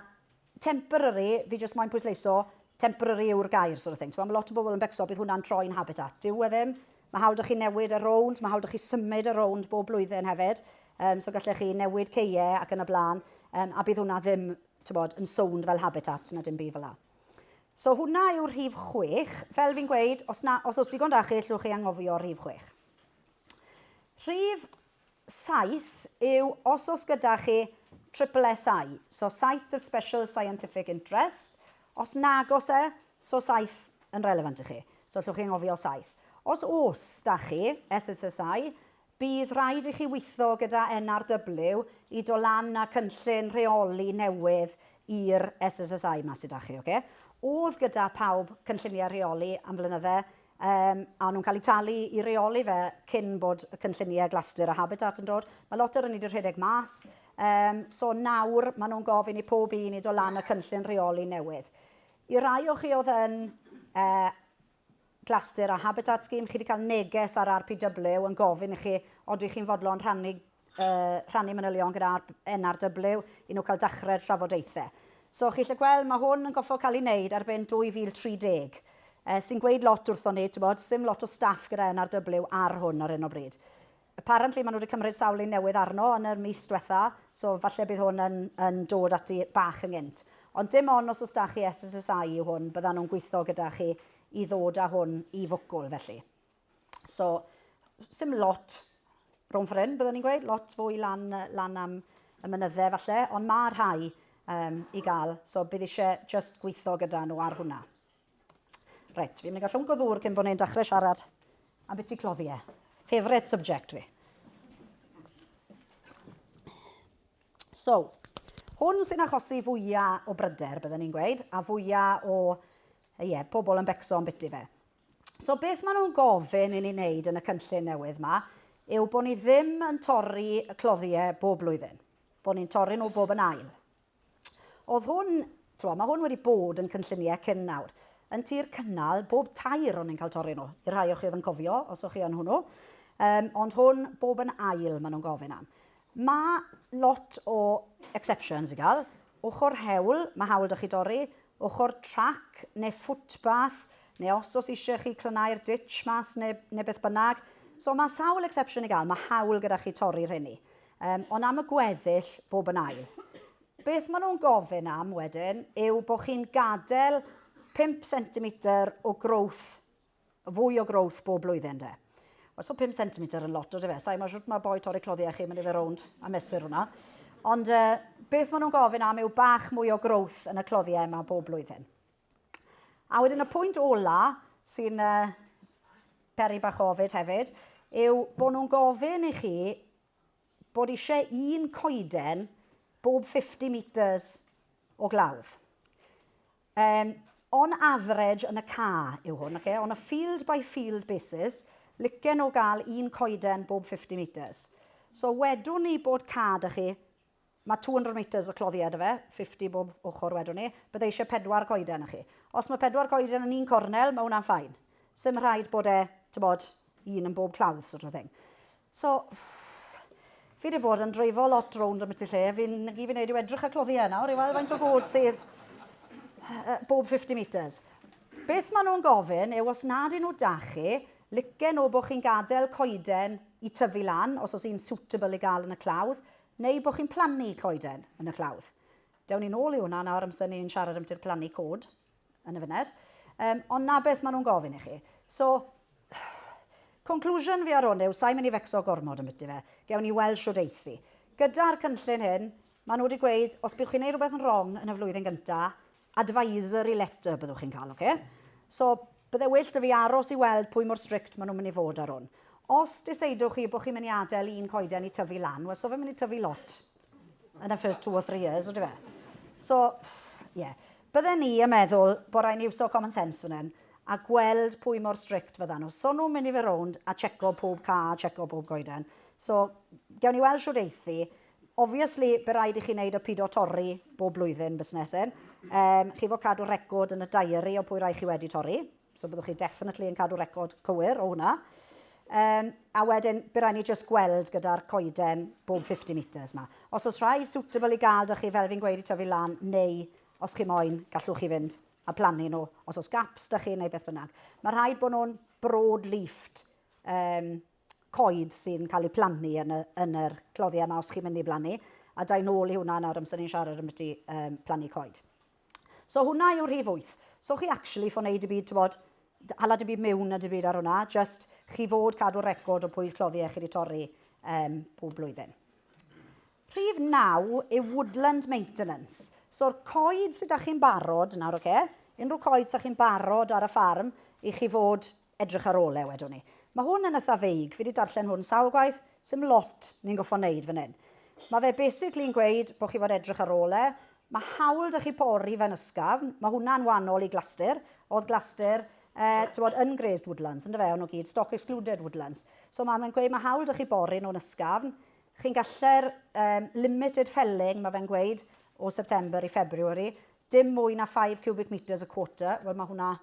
temporary, fi jyst moyn pwysleiso, temporary yw'r gair, sort of thing. Mae lot o bobl yn becso, bydd hwnna'n troi'n habitat. Dyw e ddim. Mae hawl da chi newid y rownd, mae hawl da chi symud y rownd bob blwyddyn hefyd. Um, so gallech chi newid ceie ac yn y blaen, um, a bydd hwnna ddim t'bod, yn sownd fel habitat na dim byd fel 'na. So hwnna yw'r rhif chwech. Fel fi'n gweud, os na, os oes digon da chi, llwch chi anghofio'r rhif chwech. Rhif saith yw os oes gyda chi triple SI, so Site of Special Scientific Interest, os nag os e, so saith yn relevant i chi. So llwch chi anghofio saith. Os oes da chi SSSI, Bydd rhaid i chi weithio gyda NRW i do lan a cynllun rheoli newydd i'r SSSI 'ma sy 'da chi, oce? O'dd gyda pawb cynllunie rheoli am flynydde, yym, a o'n nhw'n cael eu talu i reoli fe cyn bod y cynllunie Glastir a Habitat yn dod. Mae lot o rheiny 'di rhedeg mas, yym, so nawr maen nhw'n gofyn i pob un i do lan a cynllun rheoli newydd. I rai o chi o'dd yn yy Clasur a Habitat Scheme, chi wedi cael neges ar RPW yn gofyn i chi odych chi'n fodlon rhannu, uh, rhannu manylion gyda NRW i nhw cael dechrau'r trafodaethau. So chi'n lle gweld, mae hwn yn goffo cael ei wneud erbyn 2030, uh, sy'n gweud lot wrthon ni, ti'n bod, sy'n lot o staff gyda NRW ar hwn ar hyn o bryd. Apparently maen nhw wedi cymryd sawl un newydd arno yn yr mis dwetha, so falle bydd hwn yn yn dod ati bach yn gynt. Ond dim on os os da chi SSSI yw hwn, byddan nhw'n gwitho gyda chi i ddod a hwn i fwcwl felly. So, sim lot rhwng ffor hyn, byddwn i'n gweud, lot fwy lan, lan am y mynydde falle, ond mae rhai um, i gael, so bydd eisiau just gwitho gyda nhw ar hwnna. Reit, fi'n mynd i gael llwnc o ddŵr cyn bod ni'n dechrau siarad am beth i cloddi e. Favourite subject fi. So, hwn sy'n achosi fwyaf o bryder, byddwn ni'n gweud, a fwyaf o ie, yeah, pobl yn becso am biti fe. So beth maen nhw'n gofyn i ni wneud yn y cynllun newydd yma yw bod ni ddim yn torri y cloddiau bob blwyddyn. Bod ni'n torri nhw bob yn ail. Oedd hwn, twa, mae hwn wedi bod yn cynlluniau cyn nawr. Yn tir cynnal, bob tair o'n i'n cael torri nhw, i'r rhai o chi oedd yn cofio, os o'ch chi yn hwnnw. Um, ond hwn, bob yn ail, maen nhw'n gofyn am. Mae lot o exceptions i gael. Ochr hewl, mae hawl da chi dorri. Ochr trac neu footpath, neu os os eisiau chi clynau'r ditch mas neu, neu beth bynnag. So mae sawl exception i gael, mae hawl gyda chi torri rhenni. Yym, ond am y gweddill bob yn ail. Beth maen nhw'n gofyn am wedyn yw bod chi'n gadael 5 centimetr o growth, fwy o growth bob blwyddyn de. Wel, so 5 centimetr yn lot o defe. Sa'i mae'n siwt mae boi torri cloddiau chi, mae'n fe rownd a mesur hwnna. Ond uh, beth maen nhw'n gofyn am yw bach mwy o growth yn y cloddiau yma bob blwyddyn. A wedyn y pwynt ola sy'n uh, peri bach ofid hefyd yw bod nhw'n gofyn i chi bod eisiau un coeden bob 50 metres o glawdd. Um, on average yn y ca yw hwn, okay? on a field by field basis, licen o gael un coeden bob 50 metres. So wedwn ni bod ca da chi Mae 200 metres o cloddiau 'da fe, 50 bob ochr wedwn i, bydda i eisiau pedwar coeden i chi. Os mae pedwar coeden yn un cornel, mae hwnna'n ffain. Sdim rhaid bod e, tibod, un yn bob clawdd sort of thing. So, fi wedi bod yn dreifo lot rownd am y tu lle, fi'n i fi'n neud yw edrych ar cloddiau nawr i weld faint o god sydd bob 50 metres. Beth maen nhw'n gofyn yw os nad 'yn nhw 'da chi, licen nhw bod chi'n gadael coeden i tyfu lan, os oes un suitable i gael yn y clawdd, Neu bod chi'n plannu coeden yn y tlawd. Dewn ni nôl i hwnna nawr amser ni'n siarad ambiti'r plannu cod yn y funed. Um, ond na beth maen nhw'n gofyn i chi. So, conclusion fi ar hwn yw, sa'i mynd i fecso gormod am byti fe. Gewn ni weld siwr eithi. Gyda'r cynllun hyn, maen nhw wedi gweud, os bydd chi'n gwneud rhywbeth yn wrong yn y flwyddyn gyntaf, advisory letter byddwch chi'n cael, ocê? So, bydde well 'da fi aros i weld pwy mor strict maen nhw'n mynd i fod ar hwn. Os deseidwch chi bod chi'n mynd i adael un coeden i tyfu lan, wel, so fe'n mynd i tyfu lot yn y first two or three years, ydy fe? So, ie. Yeah. Bydden ni yn meddwl bod rhaid ni iwso common sense fan hyn a gweld pwy mor strict fyddan nhw. So nhw'n mynd i fe rownd a checo pob ca, a checo pob goeden. So, gewn ni weld siwr eithi. Obviously, be raid i chi wneud o pido torri bob blwyddyn busnesyn. Um, chi fod cadw record yn y diary o pwy rai chi wedi torri. So byddwch chi definitely yn cadw record cywir o hwnna. Um, a wedyn, bydd rhaid ni just gweld gyda'r coeden bob 50 metres yma. Os oes rhai suitable i gael dych chi, fel fi'n gweud, i tyfu lan, neu os chi moyn, gallwch chi fynd a plannu nhw, os oes gaps dych chi neu beth bynnag. Mae rhaid bod nhw'n broad leafed um, coed sy'n cael eu plannu yn y, yn yr cloddiau yma os chi'n mynd i blannu, a da i'n ôl i hwnna nawr amser ni'n siarad am byti um, plannu coed. So hwnna yw rhif 8. So chi actually fo wneud y byd, ti'n bod, hala dy byd mewn a dy byd ar hwnna, just chi fod cadw record o pwy cloddiau chi wedi torri um, pob blwyddyn. Rhif naw yw woodland maintenance. So'r coed sy 'da chi'n barod nawr, ocê, unrhyw coed 'sa chi'n barod ar y ffarm i chi fod edrych ar ôl e, wedwn i. Ma' hwn yn itha feig, fi 'di darllen hwn sawl gwaith, sdim lot ni'n goffo' neud fan hyn. Ma' fe basically yn gweud bo' chi fod edrych ar ôl e. Ma' hawl 'da chi pori fe'n ysgafn, ma' hwnna'n wanol i glastir. O'dd glastir yy t'mod yn grazed woodlands yndyfe, o'n nw gyd stock excluded woodlands. So ma' fe'n gweud ma' hawl 'da chi bori nhw'n ysgafn. Chi'n gallu'r um, limited felling, mae fe'n gweud, o September i February, dim mwy na 5 cubic metres y quarter, wel mae hwnna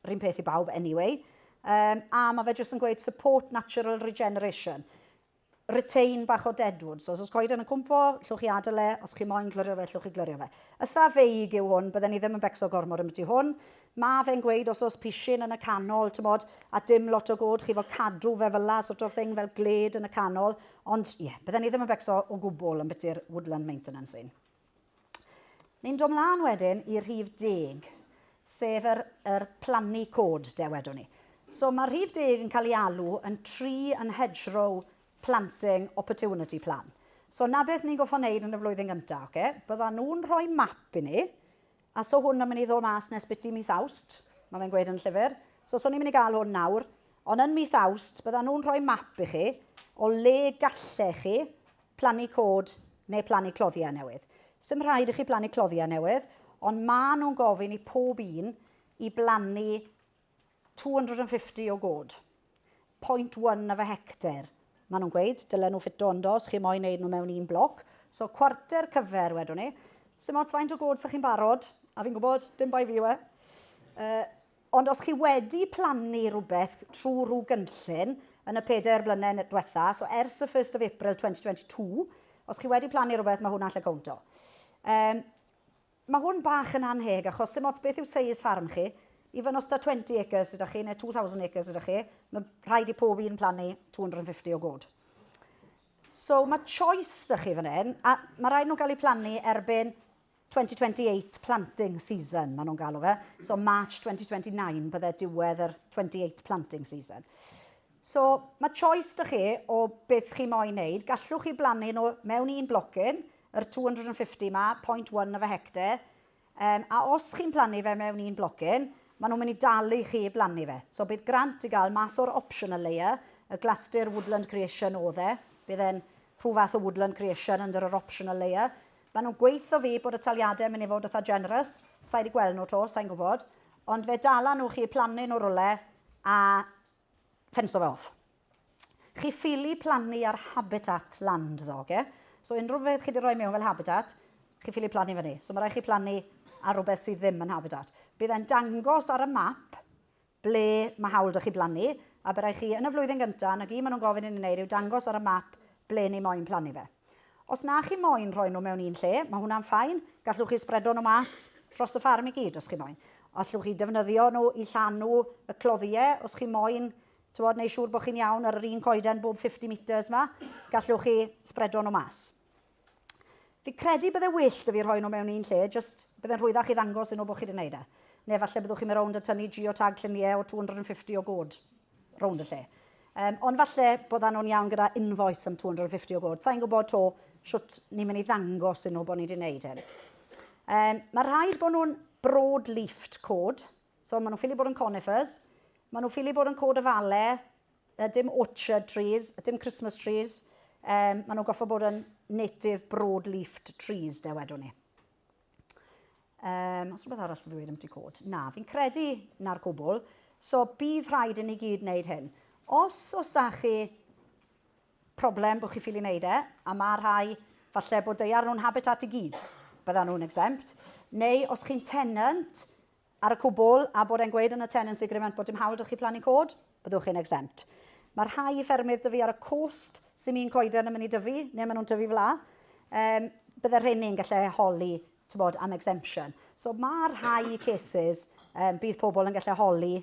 rhywun peth i bawb anyway, um, a mae fe jyst yn gweud support natural regeneration retain bach o deadwood. So, os oes coeden yn cwmpo, llwch chi adael e, os chi moyn glyrio fe, llwch chi glyrio fe. Ytha feig yw hwn, bydden ni ddim yn becso gormod am y tu hwn. Ma fe'n gweud os o's pishyn yn y canol t'mod a dim lot o god chifo cadw fe fyla sort of thing fel gled yn y canol ond ie bydden i ddim yn becso o gwbwl ymbiti'r woodland maintenance un. Ni'n do mlan wedyn i rhif deg sef yr yr plannu cod de wedwn ni. So ma rhif deg yn cael ei alw yn tree and hedgerow planting opportunity plan. So na beth ni'n goffo neud yn y flwyddyn gynta oce bydda nhw'n rhoi map i ni A so hwn yn mynd i ddod mas nes biti mis Awst, mae fe'n gweud yn y llyfr. So so ni'n mynd i gael hwn nawr. Ond yn mis Awst, byddan nhw'n rhoi map i chi o le gallech chi plannu cod neu plannu cloddiau newydd. Sdim rhaid i chi plannu cloddiau newydd, ond maen nhw'n gofyn i pob un i blannu 250 o god. 0.1 of a hectare. Maen nhw'n gweud, dylen nhw ffito ynddo os chi moyn neud nhw mewn un bloc. So cwarter cyfer, wedwn ni. Sym ots faint o god sy'ch chi'n barod, a fi'n gwybod, dim bai fi yw e. Uh, ond os chi wedi plannu rhywbeth trwy rhyw gynllun yn y pedair blynedd diwetha, so ers y 1st of April 2022, os chi wedi plannu rhywbeth, mae hwnna'n lle cownto. Um, Mae hwn bach yn annheg achos sim ots beth yw seis ffarm chi, even os da 20 acres sydd da chi neu 2000 acres sydd da chi, mae rhaid i pob un plannu 250 o god. So mae choice da chi fan hyn, a mae rhaid nhw'n cael eu plannu erbyn 2028 planting season, maen nhw'n galw fe. So March 2029 bydde diwedd yr 28 planting season. So, mae choice 'da chi o beth chi moyn wneud. Gallwch chi blannu nhw mewn un blocyn, yr 250 'ma, 0.1 of a hectare, yym, a os chi'n plannu fe mewn un blocyn, maen nhw'n mynd i dalu chi i blannu fe. So, bydd grant i gael mas o'r optional layer, y glastir woodland creation oedd e, bydd e'n rhyw fath o woodland creation under yr optional layer. Maen nhw'n gweithio fi bod y taliadau yn mynd i fod eitha generous, sa i wedi gweld nhw 'to, sa i'n gwybod, ond fe dala nhw chi plannu nhw rywle a Ffensio fe off. Chi ffili plannu ar habitat land ddo, oce? So unrhyw beth chi wedi rhoi mewn fel habitat, chi ffili plannu fyny. So mae rhaid chi plannu ar rhywbeth sydd ddim yn habitat. Bydd e'n dangos ar y map ble mae hawl da chi blannu, a bydd rhaid chi yn y flwyddyn gyntaf, na gyd maen nhw'n gofyn i ni wneud yw dangos ar y map ble ni moyn plannu fe. Os na chi moyn rhoi nhw mewn un lle, mae hwnna'n ffain. Gallwch chi sbredo nhw mas dros y ffarm i gyd os chi moyn. Allwch chi defnyddio nhw i llanw y cloddiau os chi moyn, tywod, neu siŵr bod chi'n iawn ar yr un coeden bob 50 metres yma, gallwch chi sbredo nhw mas. Fi credu bydde wyllt y fi rhoi nhw mewn un lle, jyst bydde'n rhwyddach i ddangos yn nhw bod chi wedi gwneud e. Neu falle byddwch chi'n mynd rownd a tynnu geotag lluniau o 250 o god. rownd y lle. Um, ond falle bod ano'n iawn gyda invoice am 250 o god. Sa'n gwybod to sut ni'n mynd i ddangos yn nhw bod ni wedi gwneud hyn. Um, mae rhaid bod nhw'n broad leafed cod. So maen nhw'n ffili bod yn conifers. Maen nhw'n ffili bod yn cod y fale. Dim orchard trees, dim Christmas trees. Um, maen nhw'n goffa bod yn native broad leafed trees, de wedwn ni. Um, os rhywbeth arall yn dweud am ti cod? Na, fi'n credu na'r gwbl. So bydd rhaid i ni gyd wneud hyn. Os os da chi problem bod chi ffili wneud e, a mae rhai falle bod deiar nhw'n habitat i gyd, bydda nhw'n exempt, neu os chi'n tenant, ar y cwbl a bod e'n gweud yn y tenancy agreement bod dim hawl 'da chi plannu coed, byddwch chi'n exempt. Mae rhai ffermydd 'da fi ar y coast sy'n un coeden yn mynd i dyfu, neu maen nhw'n tyfu fla, um, bydde rheini'n gallu holi bod, am exemption. So mae rhai cases um, bydd pobl yn gallu holi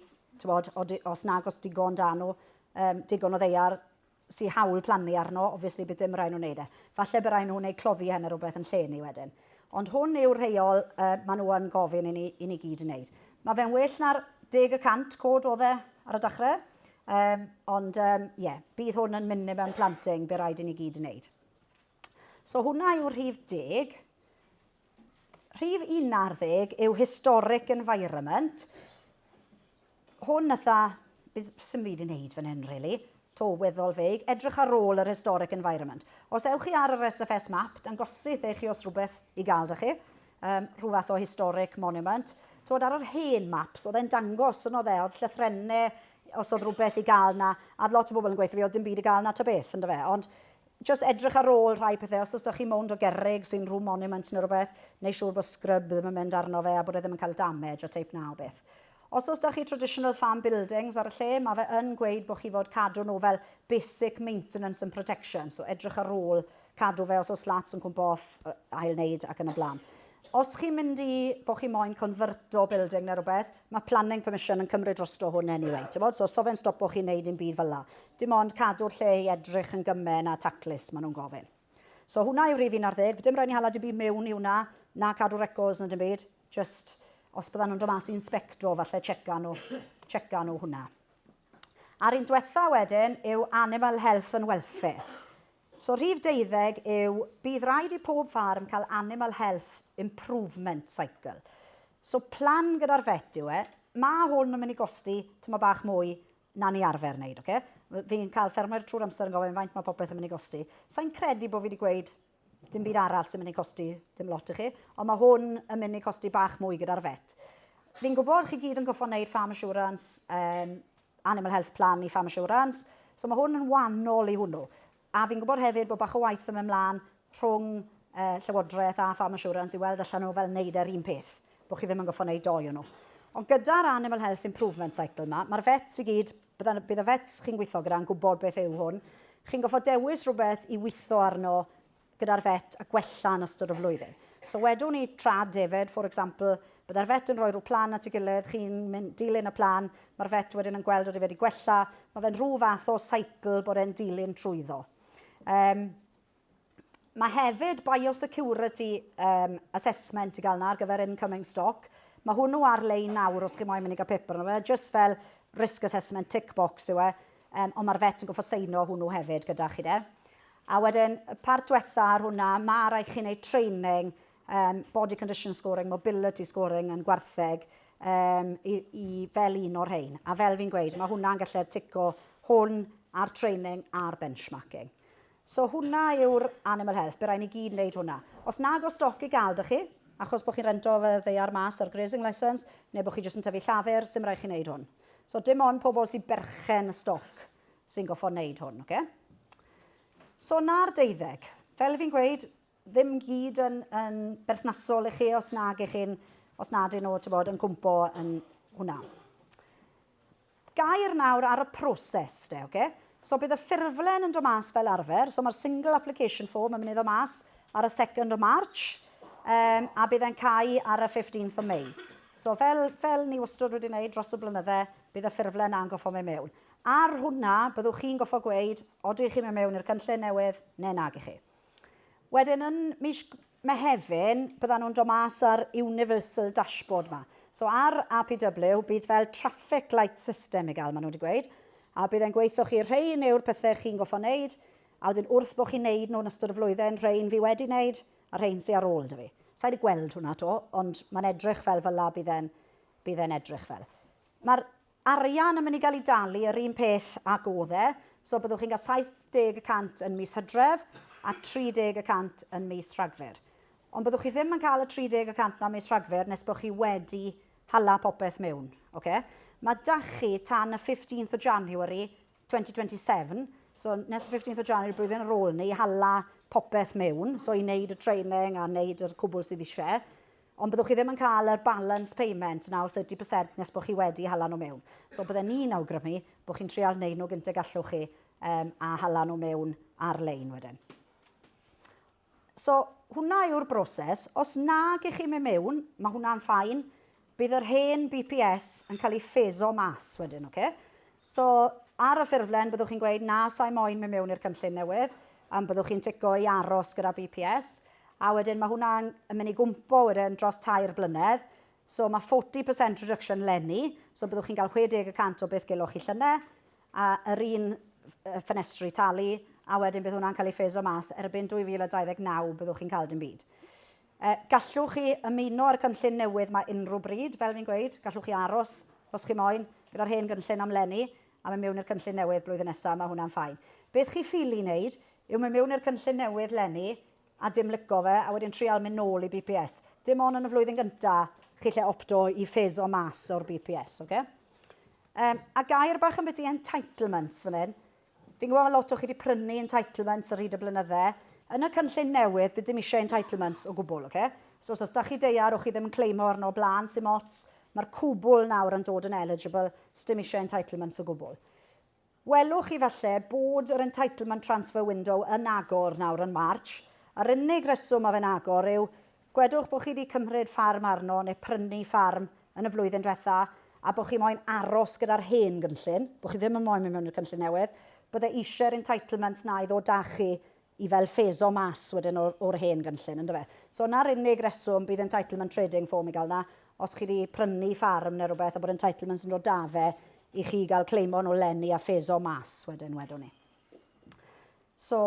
bod, os nag os digon dan nhw, um, digon o ddeiar sy hawl plannu arno, obviously bydd dim rhaid nhw wneud e. Falle bydd rhaid nhw wneud cloddi hen a rhywbeth yn lle ni wedyn. Ond hwn yw'r rheol uh, maen nhw yn gofyn i ni, i ni gyd wneud. Mae fe'n well na'r deg y cant cod oedd e ar y dechrau. Um, ond ie, um, yeah, bydd hwn yn minimum planting bydd rhaid i ni gyd wneud. So hwnna yw rhif deg. Rhif unar ddeg yw historic environment. Hwn ytha, sy'n byd i'n neud fan hyn, really. To weddol feig, edrych ar ôl yr historic environment. Os ewch chi ar yr SFS map, dangosydd eich chi os rhywbeth i gael da chi, um, rhyw fath o historic monument. Tywod, ar yr hen maps, oedd e'n dangos, yn oedd e, oedd llythrennau, os oedd rhywbeth i gael na, a lot o bobl yn gweithio fi, oedd dim byd i gael na ta beth, ynddo fe. Ond Jyst edrych ar ôl rhai pethe, os oes 'da chi mownd o gerrig sy'n rhyw monument neu rhywbeth, neu siŵr bod scrub ddim yn mynd arno fe a bod e ddim yn cael damage o teip 'na o beth. Os oes 'da chi traditional farm buildings ar y lle, mae fe yn gweud bod chi fod cadw nhw fel basic maintenance and protection, so edrych ar ôl cadw fe os oes slats yn cwmpo off, ail-wneud ac yn y blaen. Os chi'n mynd i, bod chi moyn conferto building neu rhywbeth, mae planning permission yn cymryd drosto hwn anyway, t'mod, so so fe'n stopo chi wneud dim byd fel 'na. Dim ond cadw'r lle i edrych yn gymme na taclus, maen nhw'n gofyn. So hwnna yw rhif 11, dim rhaid ni hala dim byd mewn i hwnna, na cadw records na dim byd, jyst os byddan nhw'n dod mas i inspecto, falle tseca nhw, tseca nhw hwnna. A'r un diwetha wedyn yw animal health and welfare. So rhif deuddeg yw bydd raid i pob ffarm cael Animal Health Improvement Cycle. So plan gyda'r vet yw e. Mae hwn yn mynd i gosti tyma bach mwy na ni arfer wneud, oce? Fi'n cael ffermwyr trwy'r amser yn gofyn faint mae popeth yn mynd i gosti. Sa'n credu bod fi wedi gweud dim byd arall sy'n mynd i costi dim lot i chi, ond mae hwn yn mynd i costi bach mwy gyda'r vet. Fi'n gwybod chi gyd yn goffo wneud farm assurance, um, Animal Health Plan i Farm Assurance. So mae hwn yn wannol i hwnnw. A fi'n gwybod hefyd bod bach o waith yn mynd mlaen rhwng uh, Llywodraeth a Farm Assurance i weld allan nhw fel wneud e'r un peth, bod chi ddim yn goffo wneud doi o nhw. Ond gyda'r Animal Health Improvement Cycle yma, mae'r vets i gyd, bydd y vets chi'n gweithio gyda'n gwybod beth yw hwn. Chi'n goffa dewis rhywbeth i weithio arno gyda'r vet a gwella yn ystod y flwyddyn. So wedwn ni tra defaid, for example, byddai'r vet yn rhoi rhyw plan at ei gilydd, chi'n mynd dilyn y plan, mae'r vet wedyn yn gweld bod e wedi gwella, mae fe'n rhyw fath o cycle bod e'n dilyn trwyddo. Um, Mae hefyd biosecurity um, assessment i gael yna ar gyfer incoming stock. Mae hwnnw ar-lein nawr os chi moyn mynd i gael paper yna. Mae just fel risk assessment tick box yw e, um, ond mae'r vet yn goffa seino hwnnw hefyd gyda chi de. A wedyn y part dwetha ar hwnna, ma' raid chi neud training um, body condition scoring, mobility scoring yn gwartheg um, i, i fel un o'r rhain. A fel fi'n gweud, mae hwnna'n gallu'r tico hwn a'r training a'r benchmarking. So hwnna yw'r animal health, bydd rhaid ni gyd wneud hwnna. Os nag o stoc i gael da chi, achos bod chi'n rento fe ddeiar mas ar grazing licence, neu bod chi jyst yn tyfu llafur, sy'n rhaid chi wneud hwn. So dim ond pobl sy'n berchen stoc sy'n goffo wneud hwn, oce? So na'r deuddeg. Fel fi'n gweud, ddim gyd yn, yn berthnasol i chi os nag i chi'n, os nad yn nhw, ti'n bod, yn cwmpo yn hwnna. Gair nawr ar y proses, de, oce? So bydd y ffurflen yn dod mas fel arfer. So mae'r single application form yn mynd i ddod mas ar y 2nd o March um, a bydd e'n cael ar y 15th o May. So fel, fel ni wastad wedi wneud dros y blynydde, bydd y ffurflen na'n goffo mewn mewn. Ar hwnna, byddwch chi'n gorfod gweud odw i chi'n mynd mewn i'r cynllun newydd neu nag i chi. Wedyn yn mis Mehefin, byddan nhw'n dod mas â'r Universal Dashboard ma. So ar APW, bydd fel traffic light system i gael, maen nhw wedi gweud, a bydd e'n gweithio chi, rhein yw'r pethau chi'n gorfod wneud, a wedyn wrth bod chi'n wneud nhw yn ystod y flwyddyn, rhein fi wedi wneud, a rhein sy ar ôl 'da fi. Sa i wedi gweld hwnna 'to, ond mae'n edrych fel fyla bydd e'n bydd e'n edrych fel. Mae'r arian yn mynd i gael ei dalu yr un peth ac oedd e, so byddwch chi'n cael 70 y cant yn mis Hydref a 30 y cant yn mis Rhagfyr. Ond byddwch chi ddim yn cael y 30 y cant 'na mis Rhagfyr nes bod chi wedi hala popeth mewn, ocê? Mae 'da chi tan y 15th o January 2027, so nes y 15th o January blwyddyn ar ôl 'ny i hala popeth mewn, so i wneud y training a wneud yr cwbl sydd eisiau. Ond byddwch chi ddim yn cael yr balance payment nawr 30 percent nes bod chi wedi hala nhw mewn. So bydden i'n awgrymu bod chi'n trial neud nhw gynt y gallwch chi um, a hala nhw mewn ar-lein wedyn. So hwnna yw'r broses. Os nag ych chi'n mynd mewn, mae hwnna'n ffain. Bydd yr hen BPS yn cael ei ffeso mas wedyn, oce? Okay? So, ar y ffurflen, byddwch chi'n gweud na sa'i moyn mynd mewn i'r cynllun newydd, am byddwch chi'n tico i aros gyda BPS, A wedyn mae hwnna'n yn mynd i gwmpo wedyn dros tair blynedd. So mae 40% reduction lenni, so byddwch chi'n cael 60 y cant o beth geloch chi llynedd, a yr un ffenestri talu, a wedyn bydd hwnna'n cael ei ffeso mas erbyn 2029 byddwch chi'n cael dim byd. E, gallwch chi ymuno â'r cynllun newydd mae unrhyw bryd, fel fi'n gweud, gallwch chi aros os chi moyn gyda'r hen gynllun am lenni, a mynd mewn i'r cynllun newydd blwyddyn nesaf, mae hwnna'n ffain. Beth chi ffili wneud yw mynd mewn i'r cynllun newydd 'leni a dim lico fe a wedyn trial mynd nôl i BPS. Dim on yn y flwyddyn gynta chi lle opto i ffys o mas o'r BPS, oce? Um, a gair bach ambiti entitlements fan hyn. Fi'n gwybod mae lot o chi wedi prynu entitlements ar hyd y blynydde. Yn y cynllun newydd, bydd dim eisiau entitlements o gwbl, oce? Okay? So, os da chi deiar o chi ddim yn cleimo arno blaen sy'n mots, mae'r cwbl nawr yn dod yn eligible, sdim eisiau entitlements o gwbl. Welwch chi falle bod yr Entitlement Transfer Window yn agor nawr yn March. Yr unig reswm mae fe'n agor yw, gwedwch bod chi wedi cymryd ffarm arno neu prynu ffarm yn y flwyddyn diwetha' a bod chi moyn aros gyda'r hen gynllun, bod chi ddim yn moyn mynd mewn i'r cynllun newydd, bydde eisiau'r entitlements 'na i ddod 'da chi i fel ffeso mas wedyn o'r o'r hen gynllun yndyfe? Ie. So 'na'r unig reswm bydd entitlement trading form i ga'l 'na, os chi 'di prynu ffarm ne' rwbeth a bod entitlements yn dod 'da fe i chi ga'l claimo nôl leni a ffeso mas wedyn wedwn i. So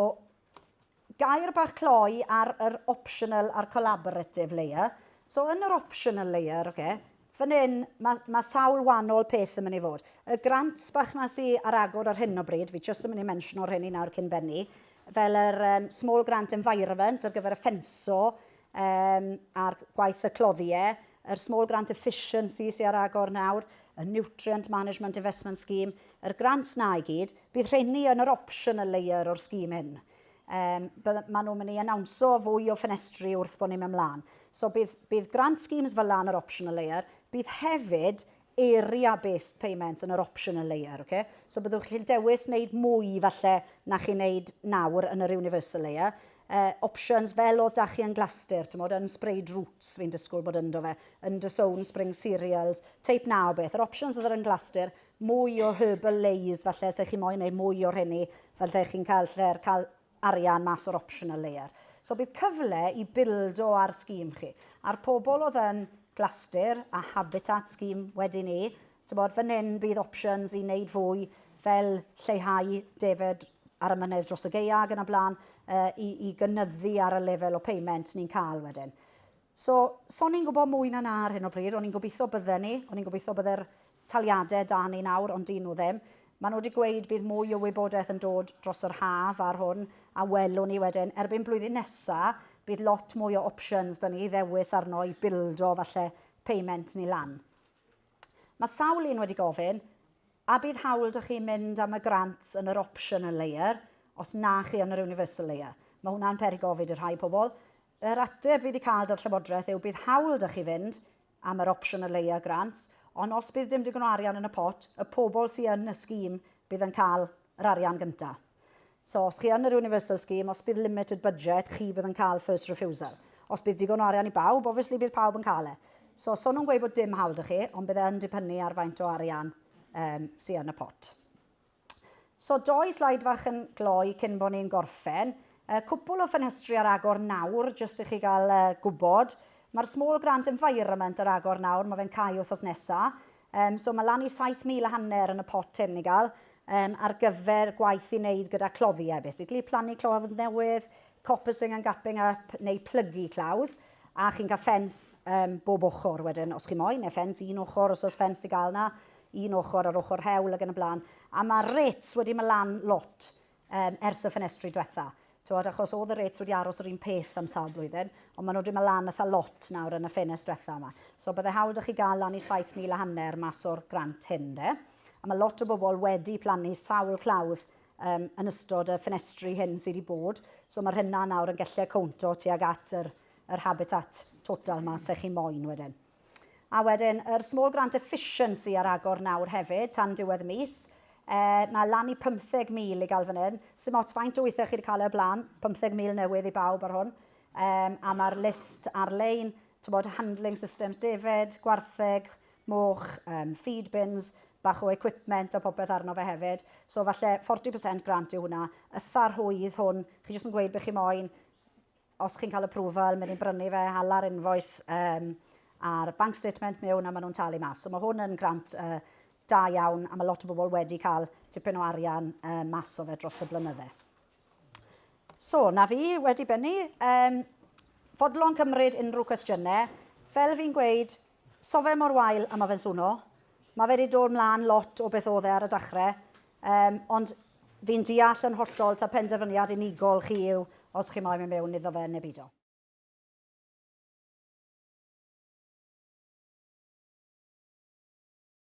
gair bach cloi ar yr optional a'r collaborative layer. So yn yr optional layer, oce, Fan hyn, mae, mae sawl wahanol peth yn mynd i fod. Y grant bach na sy ar agor ar hyn o bryd, fi jyst yn mynd i mensio'r hyn i nawr cyn bennu, fel yr um, Small Grant Environment ar gyfer y ffenso um, a'r gwaith y cloddiau, yr Small Grant Efficiency sy'n ar agor nawr, y Nutrient Management Investment Scheme, yr grants na i gyd, bydd rheini yn yr optional layer o'r sgîm hyn. Yym, bydda- ma' nhw'n mynd i anawnsio fwy o ffenestri wrth bod ni'n mynd mlaen. So bydd, bydd grant schemes fel 'na yn yr optional layer, bydd hefyd area based payments yn yr optional layer, ocê? So byddwch chi'n gallu dewis wneud mwy falle na chi'n wneud nawr yn yr universal layer. Yy, options fel oedd 'da chi yn Glastir, timod, yn sprayed roots fi'n disgwyl bod ynddo fe, yn Drysown, spring cereals, teip 'na o beth. Yr options oedd yr yn Glastir, mwy o herbal lays falle os ydych chi'n moyn neu mwy o rheni fel ydych chi'n cael lle'r cael arian mas o'r optional layer. So bydd cyfle i bildo ar scheme chi. A'r pobl oedd yn Glastir a Habitat scheme wedi ni, tibod fan hyn bydd options i wneud fwy fel lleihau defed ar y mynedd dros y geia ag yn y blaen uh, i, i gynyddu ar y lefel o payment ni'n cael wedyn. So, so ni'n gwybod mwy na na ar hyn o bryd, o'n i'n gobeithio bydden ni, o'n i'n gobeithio bydde'r taliade da ni nawr ond dy'n nhw ddim. Mae nhw wedi gweud bydd mwy o wybodaeth yn dod dros yr haf ar hwn a welwn ni wedyn. Erbyn blwyddyn nesa bydd lot mwy o options da ni i ddewis arno i bildo falle payment ni lan. Mae sawl un wedi gofyn, a bydd hawl da chi mynd am y grant yn yr optional layer os na chi yn yr universal layer? Mae hwnna'n peri gofid i rhai pobl. Yr ateb fi wedi cael dar Llywodraeth yw bydd hawl da chi fynd am yr opsiwn o leia grant, ond os bydd dim digon o arian yn y pot, y pobl sy yn y scheme bydd yn cael yr arian gynta. So, os chi yn yr universal scheme, os bydd limited budget, chi bydd yn cael first refusal. Os bydd digon o arian i bawb, obviously bydd pawb yn cael e. So, so nhw'n gweud bod dim hawl da chi, ond bydd e yn dibynnu ar faint o arian um, sy yn y pot. So, dou slaid fach yn gloi cyn bo ni'n gorffen. Cwpwl o ffenestri ar agor nawr, jyst i chi gael gwybod. Mae'r Small Grant Environment ar agor nawr, mae fe'n cau wythnos nesa. So, mae lan i 7,000 a hanner yn y pot hyn i gael ar gyfer gwaith i wneud gyda cloddiau, basically. Plannu clawdd newydd, coppicing and gapping up, neu plygu clawdd. A chi'n cael ffens bob ochr wedyn, os chi moyn, neu ffens un ochr os oes ffens i gael 'na. un ochr ar ochr hewl ac yn y blaen, a ma' rates wedi ma' lan lot yym ers y ffenestri dwetha. T'wod achos o'dd y rates wedi aros yr un peth am sawl blwyddyn, ond ma' nw wedi ma' lan itha lot nawr yn y ffenest dwetha yma. So bydde hawl 'da chi ga'l lan i saith mil a hanner mas o'r grant hyn ynde? A ma' lot o bobol wedi plannu sawl clawdd yym yn ystod y ffenestri hyn sy' 'di bod, so ma'r hynna nawr yn gelle cowntio tuag at yr yr habitat total 'ma se chi moyn wedyn. A wedyn yr small grant efficiency ar agor nawr hefyd tan diwedd y mis. E, mae lan i 50,000 i gael fan hyn. Sdim ots faint o weithiau chi wedi cael e o'r blaen, 50,000 newydd i bawb ar hwn. E, a mae'r list ar-lein, tybod, handling systems defaid, gwartheg, moch, um, feed bins, bach o equipment a popeth arno fe hefyd. So falle 40% grant yw hwnna. Y tharhwydd hwn, chi jyst yn gweud beth chi moyn, os chi'n cael approval, mae ni'n brynu fe, hala'r invoice um, a'r bank statement mewn a maen nhw'n talu mas. So mae hwn yn grant uh, da iawn a mae lot o bobl wedi cael tipyn o arian uh, mas o fe dros y blynydde. So, na fi wedi bennu. Um, fodlon cymryd unrhyw cwestiynau. Fel fi'n gweud, sofe mor wael a mae fe'n swno. Mae fe wedi dod mlaen lot o beth oedd e ar y dechrau. Yym, ond fi'n deall yn hollol ta penderfyniad unigol chi yw os chi moyn mynd mewn iddo fe neu beidio.